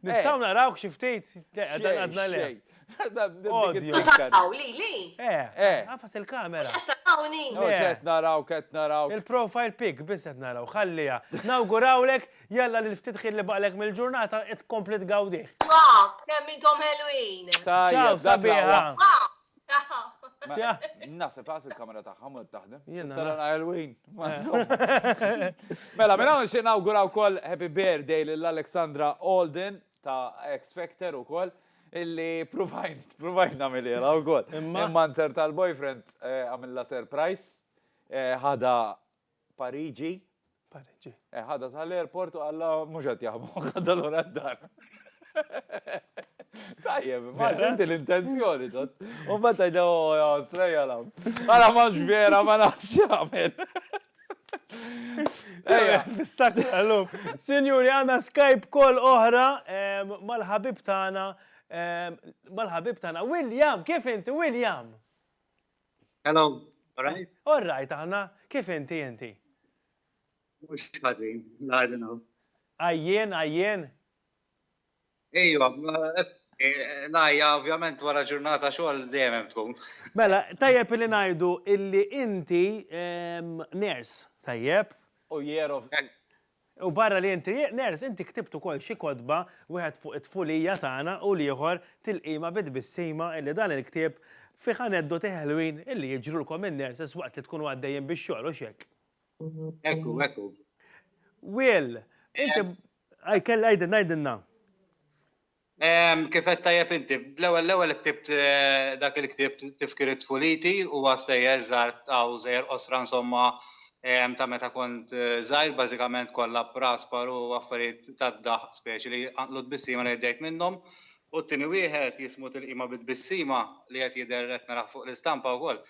Nistaw eh. narawk xi ftit dan għadna le. Taraw li li. Eh, eh. Għafas il-kamera. Tarawni. Qed naraw, qed naraw. Il-profile pic biss qed naraw, ħallija. Nawgurawlek jalla li ftit ħin li baqlek mill-ġurnata qed komplet gawdih. Wow, kemm intom ħelwin. Tajja, sabiħa. Nasib, għas il-kamera taħħa mod taħdem. Tara na Halloween. Mela, mela, xie nawgura u koll Happy Birthday l-Alexandra Alden ta' X Factor u koll illi provajn, provajn namilila u koll. Imma nser tal-boyfriend eh, għamilla surprise, eh, ħada Pariġi? Pariġi. Eh, ħadha sal-airport u għalla mhux qed jaħbu, ħadha lura d-dar. Tajjeb, ma xinti l-intenzjoni, tot. U ma tajda, oh, ja, strejja lam. Għala ma vera, ma nafx għamil. Ejja, bissak għallum. Sinjuri, għanna Skype kol oħra mal-ħabib tana, mal-ħabib tana. William, kif inti, William? Hello, all right? All right, aħna, kif inti inti? Mux ħazin, la għadinu. Għajjen, għajjen? Ejwa, eh, lajja ovvjament wara ġurnata xogħol dejjem tkun. Mela, tajjeb li ngħidu illi inti ehm, ners, tajjeb? U jerof. U barra li inti ners, inti ktibt ukoll xi kotba, wieħed fuq it-tfulija tagħna u l-ieħor tilqima bi tbissima illi dan il-ktieb fih aneddoti ħelwin illi jiġrulkom in-nurses waqt li tkunu għaddejjin bix-xogħol, hux hekk? Hekku, hekku. Will, inti, għidilna, għidilna. Kif għedt tajjeb inti, l-ewwel l-ewwel ktibt dak il-ktieb Tifkiriet Puliti, huwa stejjer żgħar u żejjer qosra insomma ta' meta kont żgħir, bażikament kollha Praspar u affarijiet tad-daħq speċi li jqanqlu tbissima li għeddejt minnhom, u t-tieni wieħed jismu Tilqima bi Tbissima li qed jidher qed narah fuq l-istampa wkoll.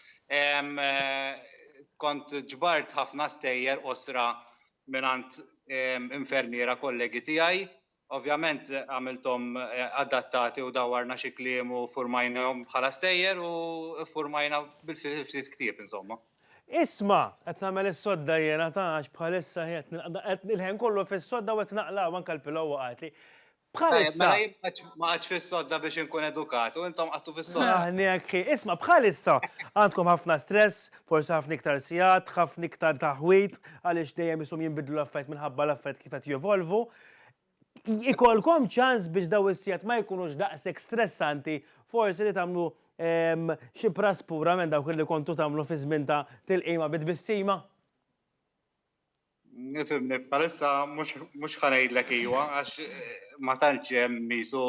Kont ġbart ħafna stejjer qosra mingħand infermiera kollegi tiegħi Ovvjament għamilthom adattati u dawwarna xi kliem u ffurmajnahom bħala stejjer u ffurmajna ftit ktieb insomma. Isma', qed nagħmel is-sodda jiena ta' għax bħalissa qiegħed nilqa' qed il-ħin kollu fis-sodda u qed naqla' u anke l-pillow waqgħetli. Bħalissa. Tajjeb, mela jien ma qgħadx fis-sodda biex inkun edukat u intom qgħadtu fis-sodda. Aħni hekk hi. Isma', bħalissa għandkom ħafna stress, forsi ħafna iktar sigħat, ħafna iktar taħwid għaliex dejjem ishom jinbidlu l-affarijiet minħabba l-affarijiet kif qed jevolvu Ikolkom ċans biex daw is-sigħat ma jkunux daqshekk stressanti, forsi li tagħmlu ehm, xi prass pura minn dawk li kontu tagħmlu fi żmien ta' tilqima bi tbissima? Nifimni, palissa mhux ħanejdlek iwa għax eh, ma tantx hemm misu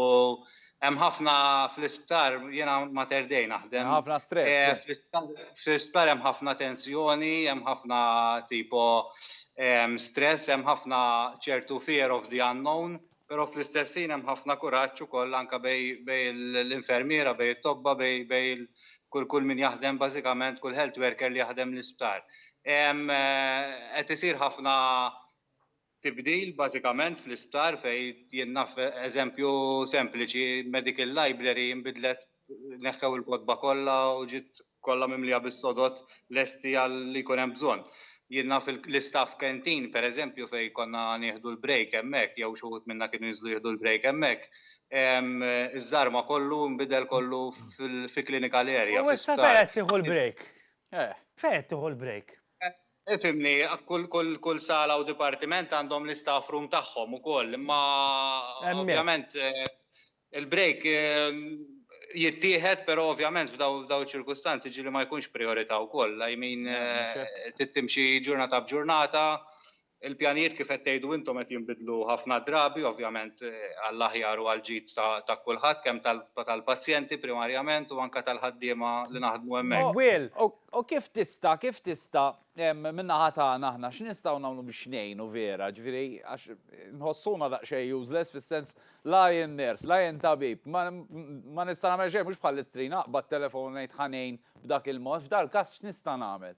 Hemm ħafna fl-isptar, jiena Mater Dei naħdem. Hemm ħafna stress. Eh, fl-isptar hemm ħafna tensjoni, hemm ħafna tipo ehm, stress, hemm ħafna ċertu fear of the unknown, però fl-istess ħin hemm ħafna kuraġġ ukoll anke bej l-infermiera, bej it-tobba, bej kull kull min jaħdem bażikament kull health worker li jaħdem l-isptar. Ehm, eh, qed isir ħafna tibdil bażikament fl-isptar fejn jien naf eżempju sempliċi medical library nbidlet neħħew il-kotba kollha u ġiet kollha mimlija bis-sodod lesti għal li jkun hemm bżonn. Jien naf l-istaff canteen pereżempju fejn konna nieħdu l-break hemmhekk jew xi wħud minna kienu jinżlu jieħdu l-break hemmhekk iż-żarma kollu nbidel kollu fi clinical area. U issa fejn qed tieħu l-break? Fejn qed tieħu l-break? Ifhimni, kull sala u dipartiment għandhom l-istaff room tagħhom ukoll, imma ovvjament il-break jittieħed però ovvjament f'dawn iċ-ċirkustanzi ġieli ma jkunx prijorità wkoll, I mean trid timxi ġurnata b'ġurnata Il-pjanijiet kif qed tgħidu intom qed jinbidlu ħafna drabi, ovvjament għall-aħjar u għall-ġid ta' kulħadd, kemm tal-pazjenti primarjament u anke tal-ħaddiema li naħdmu hemmhekk. Will, U kif tista', kif tista', min-naħa tagħna aħna x'nistgħu nagħmlu biex ngħinu vera, ġifieri għax inħossuna daqsxejn useless fis-sens la jien nurse, la jien tabib, ma nista' nagħmel xejn, mhux bħall-istrina, aqbad telefon u ngħid ħa ngħin b'dak il-mod, f'dal-każ x'nista' nagħmel?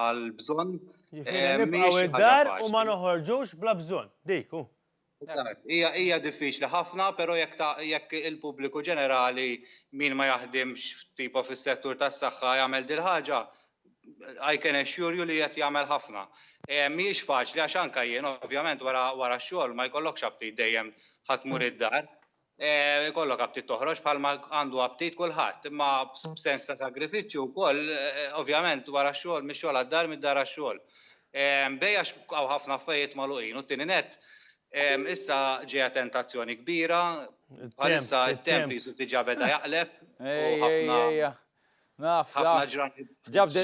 għal bżonn. Nibqgħu id-dar u ma noħorġux bla bżonn. Dik hu. Hija hija diffiċli ħafna, però jekk jekk il-pubbliku ġenerali min ma jaħdimx tipo fis-settur tas-saħħa jagħmel dil-ħaġa, I can assure you li qed jagħmel ħafna. Mhijiex faċli għax anke jien ovvjament wara wara x-xogħol ma jkollokx aptit dejjem ħa tmur id-dar. Ikollok aptit toħroġ bħalma għandu aptit kulħadd, imma b'sens ta' sagrifiċċju wkoll, ovvjament wara x-xogħol, mix-xogħol għad-dar, mid-dar għax-xogħol. B'hekk għax hawn ħafna affarijiet magħluqin u t-tieni nett, issa ġejja tentazzjoni kbira, bħalissa t-temp qisu diġà beda jaqleb u ħafna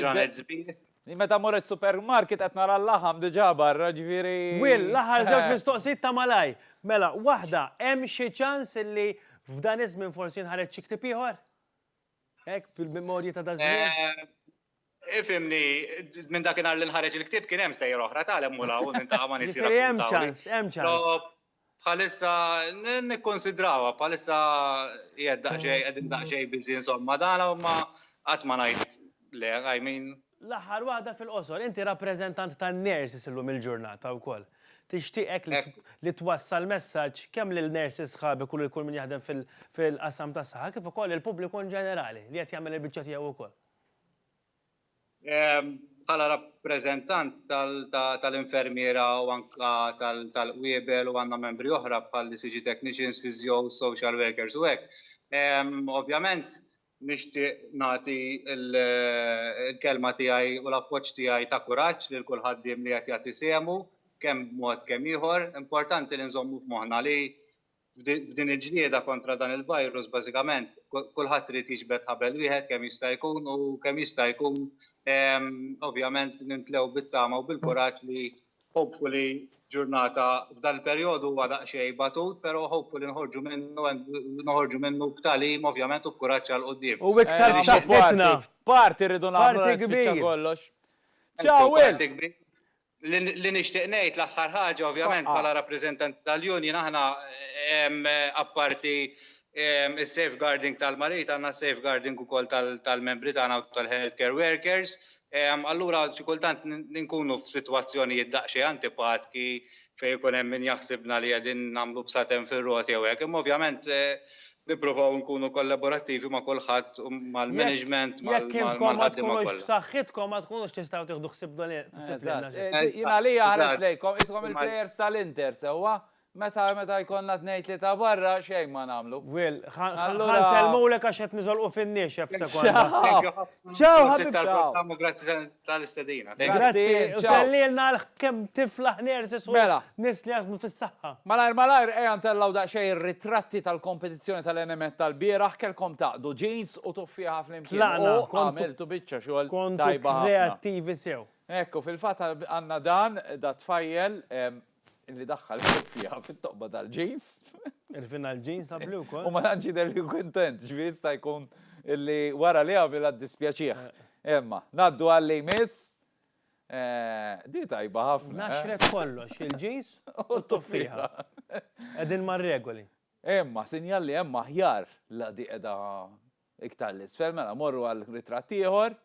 ġranet sbieħ. Jien meta mmur is-supermarket qed nara l-laħam diġà barra, ġifieri. Will, l-aħħar żewġ mistoqsijiet ta' malajr. Mela, waħda, hemm xi ċans li f'dan iż-żmien forsi jinħareġ xi ktieb ieħor? Hekk, bil-memorji ta' daż-żmien. Ifhimni, minn dakinhar li nħareġ il-ktieb kien hemm stejjer oħra, tagħlem u law, u niltaqa' ma' nies jirrakkuntaw. Jiġifieri hemm ċans, hemm ċans. Bħalissa nikkonsidrawha, bħalissa qiegħed daqsxejn qegħdin daqsxejn busy insomma dan u ma qatt ma ngħid le, I mean. L-aħħar waħda fil-qosor, inti rappreżentant tan-nurses illum il-ġurnata wkoll. Tixtieq hekk li twassal messaġġ kemm lil nurses sħabek u lil kull min jaħdem fil-qasam tas-saħħa kif ukoll lill-pubbliku inġenerali li qed jagħmel il-biċċa tiegħu wkoll? Bħala rappreżentant tal-infermiera u anke tal-qwiebel u għandna membri oħra bħall-ECG technicians, physios, social workers u hekk, ovvjament nixtieq nagħti l-kelma tiegħi u l-appoġġ tiegħi ta' kuraġġ lil kull ħaddiem li qed jagħti sehmu kemm b'mod kemm ieħor. Importanti li nżommu f'moħħna li F'din il-ġlieda kontra dan il-virus bażikament kulħadd irid jiġbed ħabel wieħed kemm jista' jkun u kemm jista' jkun ovvjament nimtlew bit-tama u bil-kuraġġ li hopefully ġurnata f'dan il-perjodu huwa daqsxejn batut però hopefully noħorġu minnu and noħorġu minnu b'tagħlim ovvjament u b'kuraġġ għal quddiem. U iktar b'saħħitna. Party rridu nagħmlu. Party kbir. Party kbir. Li nixtieq ngħid l-aħħar ħaġa ovvjament bħala rappreżentanti tal-union aħna apparti s-safeguarding tal-mariti għandna safeguarding ukoll tal-membri tagħna u tal-health care workers. Allura xi kultant nkunu f'sitwazzjonijiet daqsxejn antipatki fejn ikun hemm min jaħsibna li qegħdin nagħmlu bsaten fir-roti jew hekk. Imma ovvjament Nipprovaw nkunu kollaborattivi ma' kulħadd u mal-management, mal-ħaddiema kollha. Jekk intkom ma tkunux f'saħħitkom ma tkunux tistgħu tieħdu ħsieb dan il-proġett. Jien għalija ħares lejkom, qishom il-plejers tal-Inter sewwa, meta jkollna tnejn tlieta barra xejn ma nagħmlu. Will, ħa nsellmulek għax qed niżolqu fin-niexef f'sekonda. Ciao ħabib tal-programm grazzi tal-istedina. Grazzi, u sellilna l-kem tifla ħnersis u mela. nis li jaħdmu fis-saħħa. Malajr malajr ejja ntellaw daqsxejn ir-ritratti tal-kompetizzjoni tal-NMET tal-bieraħ kellkom taqdu ġins u tuffieħa flimkien. Tlaqna. Għamiltu biċċa xogħol tajba ħafna. Kontu kreattivi sew. Ekku, fil-fatt għandna dan, dat-tfajjel, li daħħal il-kuffiha fit-toqba tal-ġins. Irfina l-ġins ta' blu wkoll. U ma tantx jidher li kuntent, ġifieri jista' jkun li wara li għamilha ddispjaċih. Imma, ngħaddu għalli jmiss. Di tajba ħafna. Naxret kollox, il-ġins u t-tuffiħa. Qegħdin mar-regoli. Imma, sinjal li hemm aħjar la di qiegħda iktar l-isfel, mela morru għal ritratt ieħor.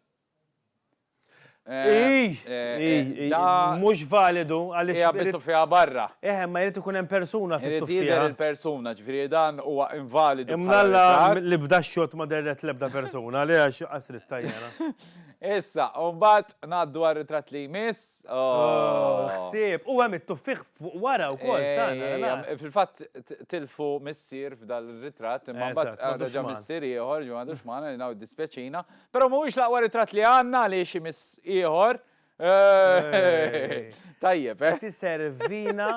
Mhux validu għaliex. Hija bit-tuffiegħa barra. Eħe, ma jrid ikun hemm persuna fit-tuffiegħa. Jrid jidher il-persuna, ġifieri dan huwa invalidu. Imma Alla li bda x-xogħol ma dehret l-ebda persuna, li għax qas trid tajjara. Issa, u mbagħad ngħaddu għar-ritratt li jmiss. Ħsieb, u hemm it-tuffieħ fuq wara wkoll sana. Fil-fatt tilfu missier f'dan ir-ritratt, imma mbagħad reġa' missier ieħor, ġo m'għadux magħna, dispjaċina. Però mhuwiex l-aqwa ritratt li għandna għaliex imiss ieħor. Tajjeb, eh? Qed iservina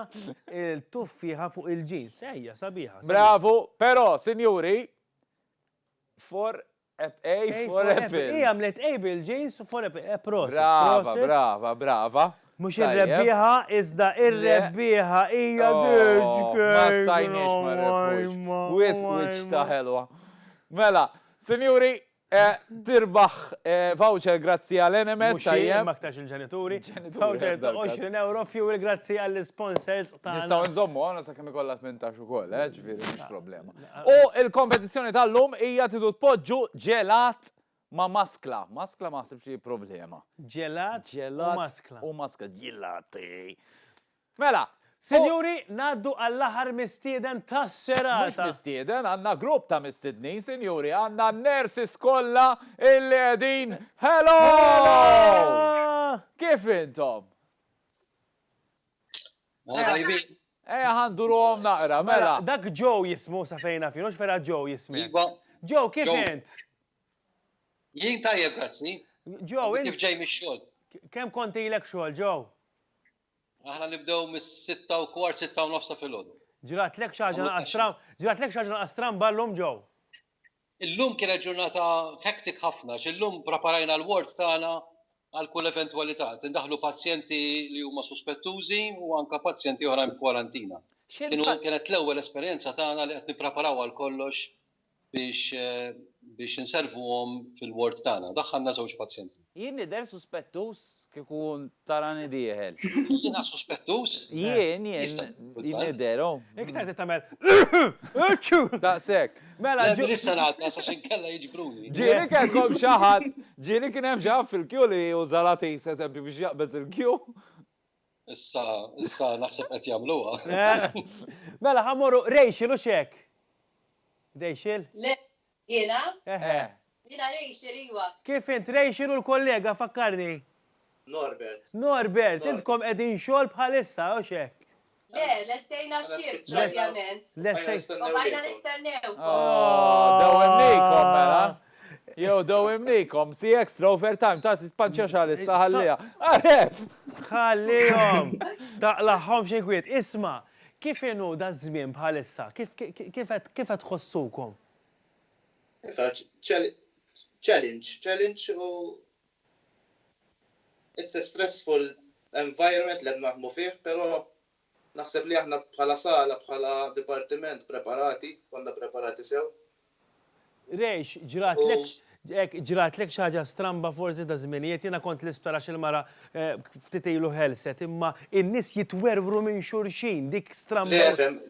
l-tuffieħa fuq il-ġins. Ejja, sabiħa. Bravu, però, sinjuri, for A for apple. Hi għamlet A bil-ġins u for apple. Eh, prosit. Brava, brava, brava. Mux ir-rebbieħa, iżda ir-rebbieħa hija oh, dirġ. Ma stajniex ma rebbieħa. Wis wiċ ta' ħelwa. Mela, sinjuri, Tirbaħ voucher grazzi għal Enemed. Mhux jien, imma aktarx il-ġenituri. Voucher ta' €20 Fuel grazzi għall-isponsors tagħna. Nistgħu nżommu hawn sakemm ikollha tmintax ukoll, ġifieri mhix problema. U l-kompetizzjoni tal-lum hija tridu tpoġġu ġelat ma' maskla. Maskla ma naħsibx li hi problema. Ġelat u maskla. Ġelat u maskla. Ġilati. Mela, sinjuri, ngħaddu għall-aħħar mistieden tas-serata. Mhux mistieden, għandna grupp ta' mistednin, sinjuri, għandna n-nurses kollha illi qegħdin Hello! Kif intom? Aħna tajbin. Ejja ħa nduruhom naqra, mela. Dak Joe jismu sa fejn naf jien, hux vera Joe jismek? Iva. Joe, kif int? Jien tajjeb, grazzi. Joe, int. Kif ġej mix-xogħol? Kemm kont ilek xogħol, Joe? Aħna nibdew mis-sitta u kwart, sitta u nofs ta' filgħodu. Ġratlek xi ħaġa naqas stram, ġratlek xi ħaġa naqas stramba llum Joe? Illum kienet ġurnata hectic ħafna, għax illum praparajna l-ward tagħna għal kull eventwalità. Qed indaħħlu pazjenti li huma suspettużi u anke pazjenti oħrajn b'kwarantina. Kienu, kienet l-ewwel esperjenza tagħna li qed nippraparaw għal kollox biex biex inservuhom fil-ward tagħna. Daħħalna żewġ pazjenti. Jien nidher suspettuż kieku tarani dieħel. Jiena suspettuż? Jien, jien nidher, oh. Iktar trid tagħmel Aċċu! Daqshekk. Mela ġu. Le issa ngħaddi għax inkella jiġbruni. Ġieli kellkom xi ħadd, ġieli kien hemm xi ħadd fil-kju li juża l-għatis eżempju biex jaqbeż il-kju. Issa, issa naħseb qed jagħmluha. Eh, mela ħamorru Rachel u xek. Rachel? Le, jiena? Eħe. Eh. Jiena Rachel iwa. Kif int Rachel u l-kollega fakkarni? Norbert. Norbert, intkom qegħdin xogħol bħalissa u xek. Le, lestejna xift pratikament. Lestejna. Bajna nistennew. Oh, dawemnikom mela. Jew do imnikom, si extra overtime, ta' titpanċa xal issa ħallija. Ħallihom! Taqlaħħom xi kwiet. Isma, kif inhu da żmien bħalissa? Kif qed tħossukom? Challenge, challenge u it's a stressful environment li qed naħdmu fih, però Naħseb li aħna bħala sala, bħala dipartiment preparati, konna preparati sew. Raysh, ġratlek, hekk, ġratlek xi ħaġa stramba forsi ta' żminijiet, jiena kont l-isptar għax il-mara ftit ilu ħelset, imma n-nies jitwerwru minn xulxin, dik stramba. Le, fhem,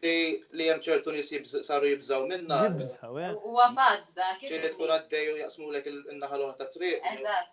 li hemm ċertu nies saru jibżgħu minnha. Jibżgħu, eh. Huwa fatt dak. Ġieli tkun għaddej u jaqsmulek in-naħa l-oħra tat-triq. Eżatt.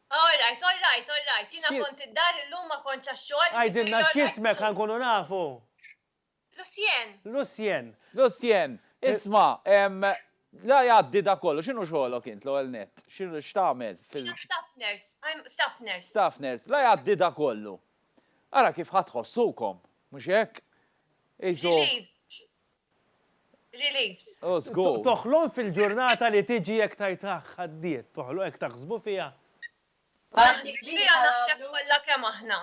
All right, all right, all right. Jiena kont id-dar illum ma kontx għax-xogħol. Għidilna x'jismek ħa nkunu nafu. Lucien. Lucien. Lucien, isma', ehm, la jgħaddi da kollu, x'inhu xogħolok int l-ewwel nett? X'inhu x'tagħmel fil-. Jiena staff nurse, I'm staff nurse. Staff nurse, la jgħaddi da kollu. Ara kif ħa tħossukom, mhux hekk? Qisu. Relieved. Relieved. Oh, żgur. Toħlom fil-ġurnata li tiġi jekk tgħidha għaddiet. Toħlom hekk taħsbu fiha. Għandi kbira naħseb kollha kemm aħna.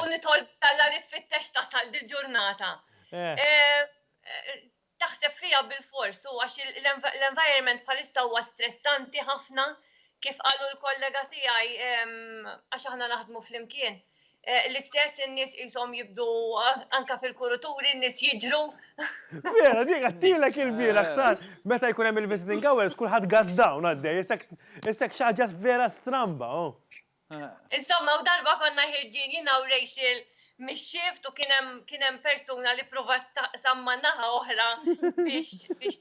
U nitolbu lil Alla li tfittex tasal dil-ġurnata. Taħseb fiha bilfors u għax l-environment bħalissa huwa stressanti ħafna, Kif qalu l-kollega tiegħi, għax aħna naħdmu flimkien, l-istess in-nies qishom jibdu anke fil-kurituri n-nies jiġru. Vera, dik għattilek il-bieraħ sar. Meta jkun hemm il-visiting hours kulħadd gas down għaddej, issek xi ħaġa vera stramba. Oh. Insomma, u darba konna ħirġin jiena u Rachel mix-xift u kien hemm persuna li provat taqsam ma' naħa oħra biex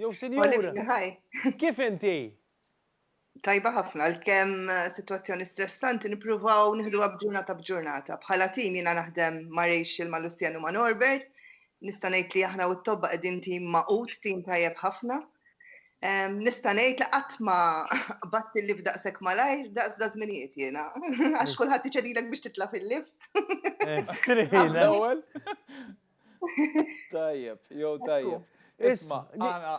Jew sinjura. Kif inti? Tajba ħafna, għalkemm sitwazzjoni stressanti nippruvaw nieħduha b'ġurnata b'ġurnata. Bħala tim jiena naħdem ma' Rachel, ma' Lucian u ma' Norbert. Nista' ngħid li aħna u t-tobba qegħdin tim magħqud, tim tajjeb ħafna. Nista' ngħid li qatt ma qbadt il-lift daqshekk malajr daqs da' żminijiet jiena. Għax kulħadd iċedilek biex titla' fil-lift. Straight l-ewwel. Tajjeb, jew tajjeb. Isma, għana.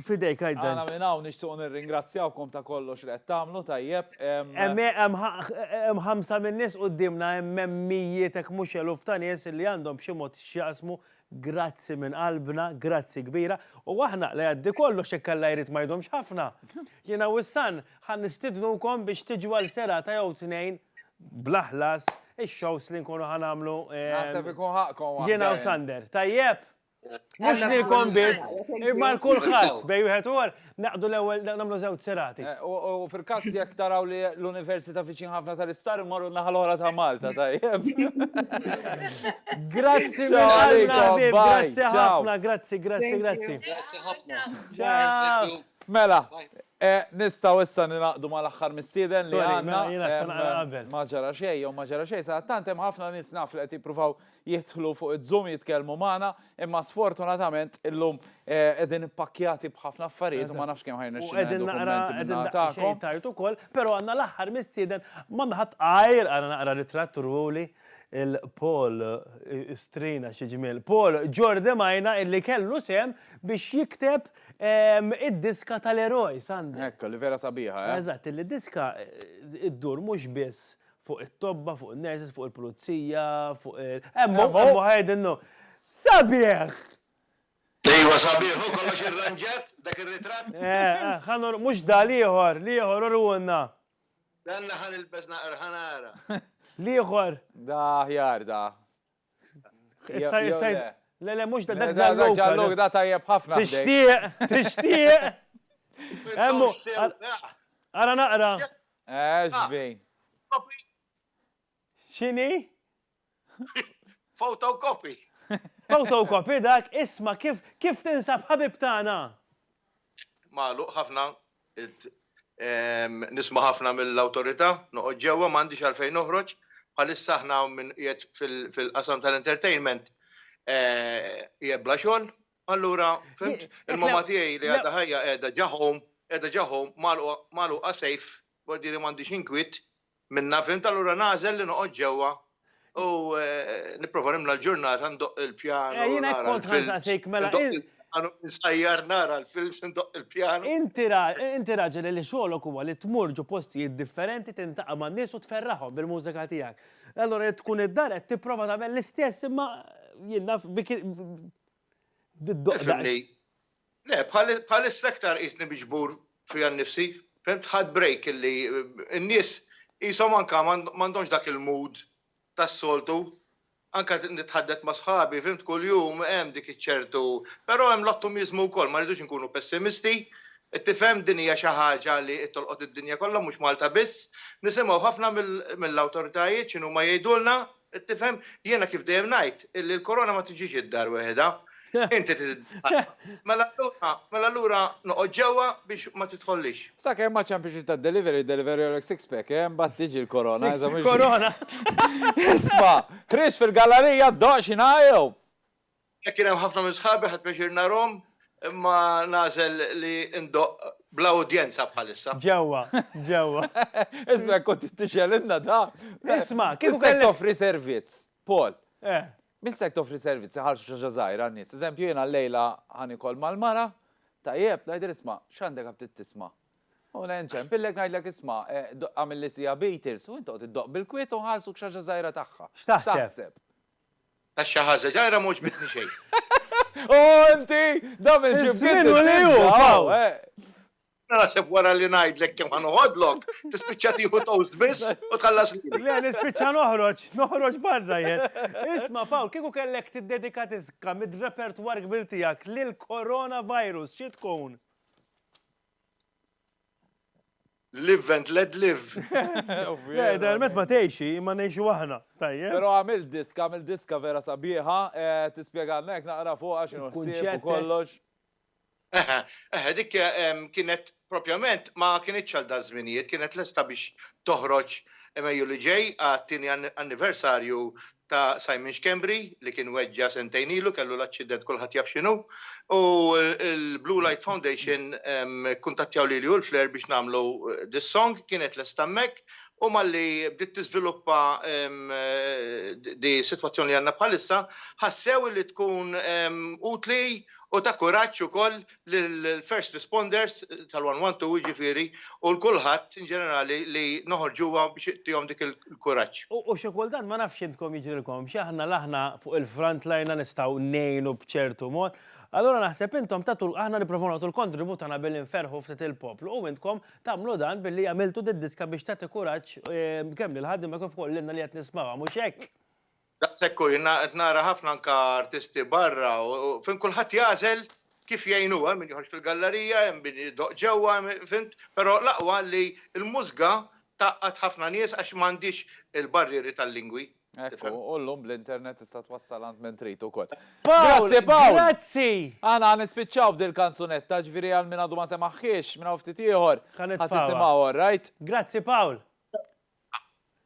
Fidejk għajdan. Għana minn hawn nixtuq nirringrazzjawkom ta' kollox li qed tagħmlu tajjeb. Hemm ħamsa minn nies qudiemna hemm mijiet hekk mhux eluf ta' nies li għandhom b'xi mod x'jaqsmu. Grazzi minn qalbna, grazzi kbira. U aħna li jgħaddi kollox hekk Alla jrid ma jdomx ħafna. Jiena wissan. Ħa nistidnukom biex tiġu għal serata jew tnejn bla ħlas ix-shows li nkunu ħa nagħmlu. Naħseb ikun ħaqqkom waħda. Jiena u Sander. Tajjeb? Mhux lilkom biss, imma għal kulħadd bejn wieħed u ieħor naqdu l-ewwel nagħmlu żewġ serati. U fil-każ jekk taraw li l-università viċin ħafna tal-isptar immorru n-naħa l-oħra ta' Malta, tajjeb? Grazzi minn qalbna ħbieb, grazzi ħafna, grazzi, grazzi, grazzi. Grazzi ħafna. Ciao. Mela, nistgħu issa ningħaqdu mal-aħħar mistieden li għandna. Sorry, mela jiena tlaqna qabel. Ma ġara xejn jew ma ġara xejn, sadattant hemm ħafna nies naf li qed jippruvaw jidħlu fuq iz-Zoom jitkellmu magħna, imma sfortunatament illum qegħdin ippakkjati b'ħafna affarijiet u ma nafx kemm ħa jirnexxina nieħdu kummenti minn naħa tagħkom. U qegħdin naqra xejn tard ukoll, però għandna l-aħħar mistieden ma nħadd għajr ara naqra ritratt uruli lil Paul Strina xi ġmiel. Paul Ġordi Majna illi kellu sehem biex jikteb Id-diska tal-eroj, Sunday. Hekk, li vera sabiħa, eh? Eżatt, li d-diska ddur mhux biss fuq it-tobba, fuq in-nurses, fuq il-pulizija, fuq il. Hemm hu, hemm hu, qiegħed innu. Sabiħ! Ejwa, sabiħ hu, kollox irranġat, dak ir-ritratt? Eh, eh, ħa nor, mhux da, l-ieħor, l-ieħor, uriehulna. Stenna ħa nilbes naqra, ħa nara. L-ieħor. Da aħjar, da. Issa jisaj. Le, le, mux da dak ġa l-lok. Ġa l-lok da tajjeb ħafna. Tixtieq, tixtieq. Emmu. Ara naqra. Eżbin. Xini? Fotokopi. Fotokopi dak, isma kif kif tinsab ħabib tagħna? Malu, ħafna. Nisma' ħafna mill-Awtorità, noqgħod ġewwa m'għandix għalfejn noħroġ. Bħalissa aħna hawn min qiegħed fil-qasam tal-entertainment qiegħed bla xogħol. Allura, fimt, il-mamma tiegħi li għadha ħajja qiegħda ġa home, qiegħda ġa home magħluqa safe, b'hordiri m'għandix inkwiet, Minnha fhimt allura nagħżel li noqgħod ġewwa u nipprova nimla l-ġurnata ndoqq il-pjanu. Eh, jiena kont ħansaqsik mela. Insajjar nara l-films indoqq il-pjanu. Inti raġel li xogħolok huwa li tmur ġo postijiet differenti tintaqa' man-nies u tferraħhom bil-mużika tiegħek. Allura jekk tkun id-dar qed tipprova tagħmel l-istess imma jien naf Tifhimni? Le, bħalissa iktar qisni miġbur fija nnifsi, fimt, ħadt break illi n-nies qishom anke m'għandhomx dak il-mood tas-soltu. Anke nitħaddet ma' sħabi, fimt, kuljum hemm dik iċ-ċertu, però hemm l-ottumiżmu wkoll, ma rridux inkunu pessimisti, tifhem, din hija xi ħaġa li qed tolqot id-dinja kollha mhux Malta biss. Nisimgħu ħafna mill-awtoritajiet x'inhuma jgħidulna, Qed tifhem? Jiena kif dejjem ngħid illi l-korona ma tiġix id-dar weħidha. Inti trid Mela allura, mela allura noqgħod ġewwa biex ma tidħollix. Sakemm ma ċampiex li tad-delivery, deliverylek six pack, eh, mbagħad tiġi l-korona. Six pack korona! Isma', ħriġt fil-gallarija ddoqq xi ngħajjom! Jekk kien hemm ħafna minn sħabi ħadt pjaċir narhom, imma nagħżel li ndoqq bla udjenza bħalissa. Ġewwa, ġewwa. Isma' jekk kont tixgħelilna da! Isma', kieku kellek. Min se jrid toffri servizz? Paul. Eh. Min se jrid toffri servizz iħallsu xi ħaġa żgħira għan-nies? Eżempju, jiena llejla ħa nikol mal-mara, tajjeb, ngħidilha isma' x'għandek ha bdiet tisma'. U le nċempillek ngħidlek isma' għamilli siegħa Beatles u int toqgħod iddoqq bil-kwiet u nħallsuk xi ħaġa żgħira tagħha. X'taħseb? Għax xi ħaża żgħira ma għoġbitni xejn. Oh inti! Dam il-ġibdiet u liju! Jena naħseb wara li ngħidlek kemm ħan uħodlok, tispiċċa tieħu toast biss u tħallas li. Le, nispiċċa noħroġ, noħroġ barra jien. Isma' Pawl, kieku kellek tiddedika tiska mid-repertwar kbir tiegħek lil coronavirus, xi tkun? Live and let live. Le, idealment ma tgħixi, imma ngħixu aħna, tajjeb. Però għamil disk, għamil diska vera sabiħa, eh, tispjegalna hekk naqra fuq għax inħsieb kollox. Eħe, eħe, dik ehm, kienet propjament ma kienet għal da żminijiet, kienet lesta biex toħroġ emejju li ġej għat-tieni anniversarju ta' Simon Schembri li kien weġġa' sentejn ilu, kellu l-aċċident kulħadd jaf x'inhu, u l-Blue Light Foundation kkuntattjaw lili u l-Flare biex nagħmlu this song, kienet lesta hemmhekk u malli bdiet tiżviluppa di sitwazzjoni li għandna bħalissa, ħassew li tkun utli u ta' kuraġġ ukoll lill-first responders tal-112 jiġifieri u l-kulħadd in ġenerali li noħorġuha biex tihom dik il-kuraġġ. U xi kultant ma nafx intkom jiġrilkomx, aħna l-aħna fuq il-front line la nistgħu ngħinu b'ċertu mod, allura naħseb intom tagħtu aħna nipprovaw nagħtu l-kontribut tagħna billi nferrħu ftit il-poplu u intkom tagħmlu dan billi għamiltu did-diska biex tagħti kuraġġ kemm lill-ħaddiema kif ukoll lilna li qed nismgħuha, mhux hekk? Daqshekk hu, jien qed nara ħafna anke artisti barra u fim kulħadd jagħżel kif jgħinu, hemm min joħroġ fil-gallerija, hemm min idoqq ġewwa, fimt, però l-aqwa li l-mużga tgħaqqad ħafna nies għax m'għandhiex il-barrieri tal-lingwi. Ekku, u llum bl-internet tista' twassal għand min trid ukoll. Pawl, grazzi! Aħna ħa nispiċċaw b'dil-kanzunetta, ġifieri għal min għadu ma semaħhiex, minn hawn ftit ieħor ħa tisimgħu, all right? Grazzi Pawl!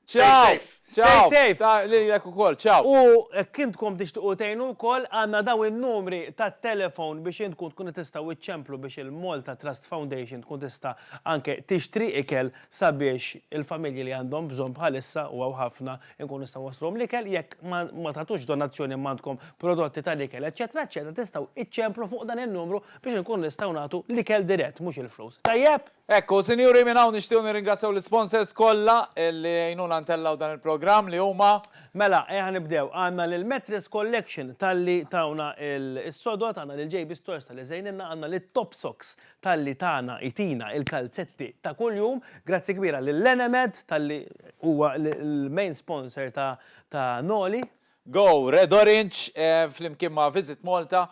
Stay safe. Stay safe. Lilek ukoll. Ciao. U jekk intkom tixtiequ tgħinu wkoll, għandna dawn in-numri tat-telefown biex intkom tkunu tistgħu iċċemplu biex il-Malta Trust Foundation tkun tista' anke tixtri ikel sabiex il-familji li għandhom bżonn bħalissa, u hawn ħafna, inkunu nistgħu nwassluhom l-ikel. Jekk ma tagħtux donazzjoni imma għandkom prodotti tal-ikel, eċċetera, eċċetera, tistgħu iċċemplu fuq dan in-numru biex inkunu nistgħu nagħtu l-ikel dirett, mhux il-flus. Tajjeb? Hekk hu, sinjuri, minn hawn nixtiequ nirringrazzjaw l-isponsors kollha li għinuna ntellgħu dan il-programm li huma. Mela, ejja nibdew. Għandna lill-Mattress Collection talli tawna is-sodod, għandna lil JB Stores talli żejnilna, għandna lit-Topsocks talli tana, itina, il-kalzetti ta' kuljum. Grazzi kbira lil Enemed talli huwa l-main sponsor ta' Noli. Go Red Orange flimkien ma' Visit Malta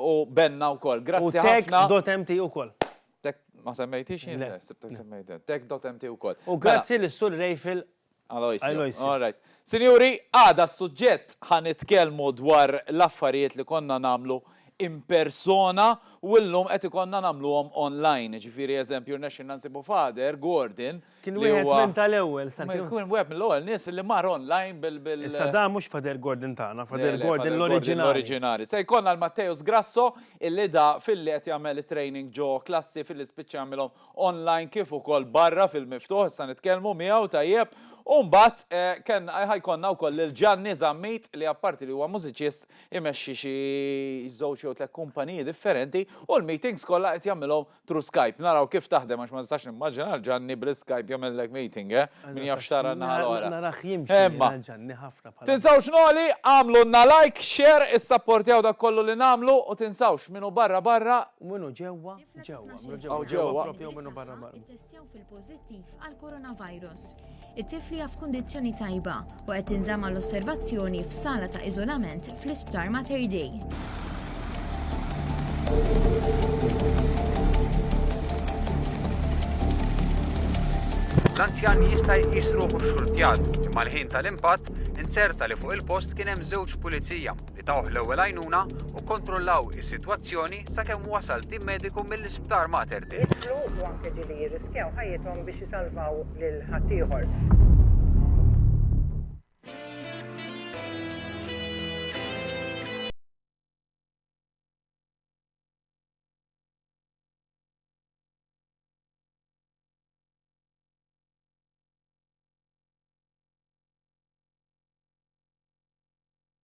u Benna wkoll. Grazzi ħafna. U Tech.mt ukoll. Ma semmejtix jien? Le, sibtek semmejt int. Tech.mt ukoll. U grazzi lil Sur Rayfield Aloisio. All right. Sinjuri, għada s-suġġett ħa nitkellmu dwar l-affarijiet li konna nagħmlu in persona u llum qed ikollna nagħmluhom online. Jiġifieri eżempju rnexxielna nsibu Father Gordon Kien wieħed minn tal-ewwel. Kien wieħed mill-ewwel nies li mar online bil bil. Issa dan mhux Father Gordon tagħna, Father Gordon l-oriġinali. L-oriġinali. Se jkollna l-Matteus Grasso illi da filli qed jagħmel it-training ġo klassi filli spiċċa jagħmilhom online kif ukoll barra fil-miftuħ, issa nitkellmu miegħu tajjeb. U mbagħad kellna ħa jkollna wkoll lil Ġanni Zammit li apparti li huwa mużiċist imexxi xi żewġ jew tliet kumpaniji differenti u l-meetings kollha qed jagħmilhom through Skype naraw kif taħdem għax ma nistax nimmaġina lil Ġanni bl Skype jagħmellek meeting eh, min jaf x'tara n-naħa l-oħra. Narah jimxi jiena Ġanni ħafna bħala. Tinsawx Noli, agħmlulna like, share, issapportjaw dak kollu li nagħmlu u tinsawx min hu barra barra, Min hu ġewwa ġewwa, min hu ġewwa ġewwa propju u min hu barra barra. Testew fil-pożittiv għall-coronavirus. It-tifl hija f'kundizzjoni tajba u qed tinżamm għal osservazzjoni f'sala ta' iżolament fl-Isptar Mater Dei. L-anzjan jista' jqis ruħu xxurtjat, imma l-ħin tal-impatt inzerta li fuq il-post kien hemm żewġ pulizija Tawh l-ewwel għajnuna u kkontrollaw is-sitwazzjoni sakemm wasal tim mediku mill-Isptar Mater Dei. Jidħlu u anke ġieli jirriskjaw ħajjithom biex isalvaw lil ħaddieħor.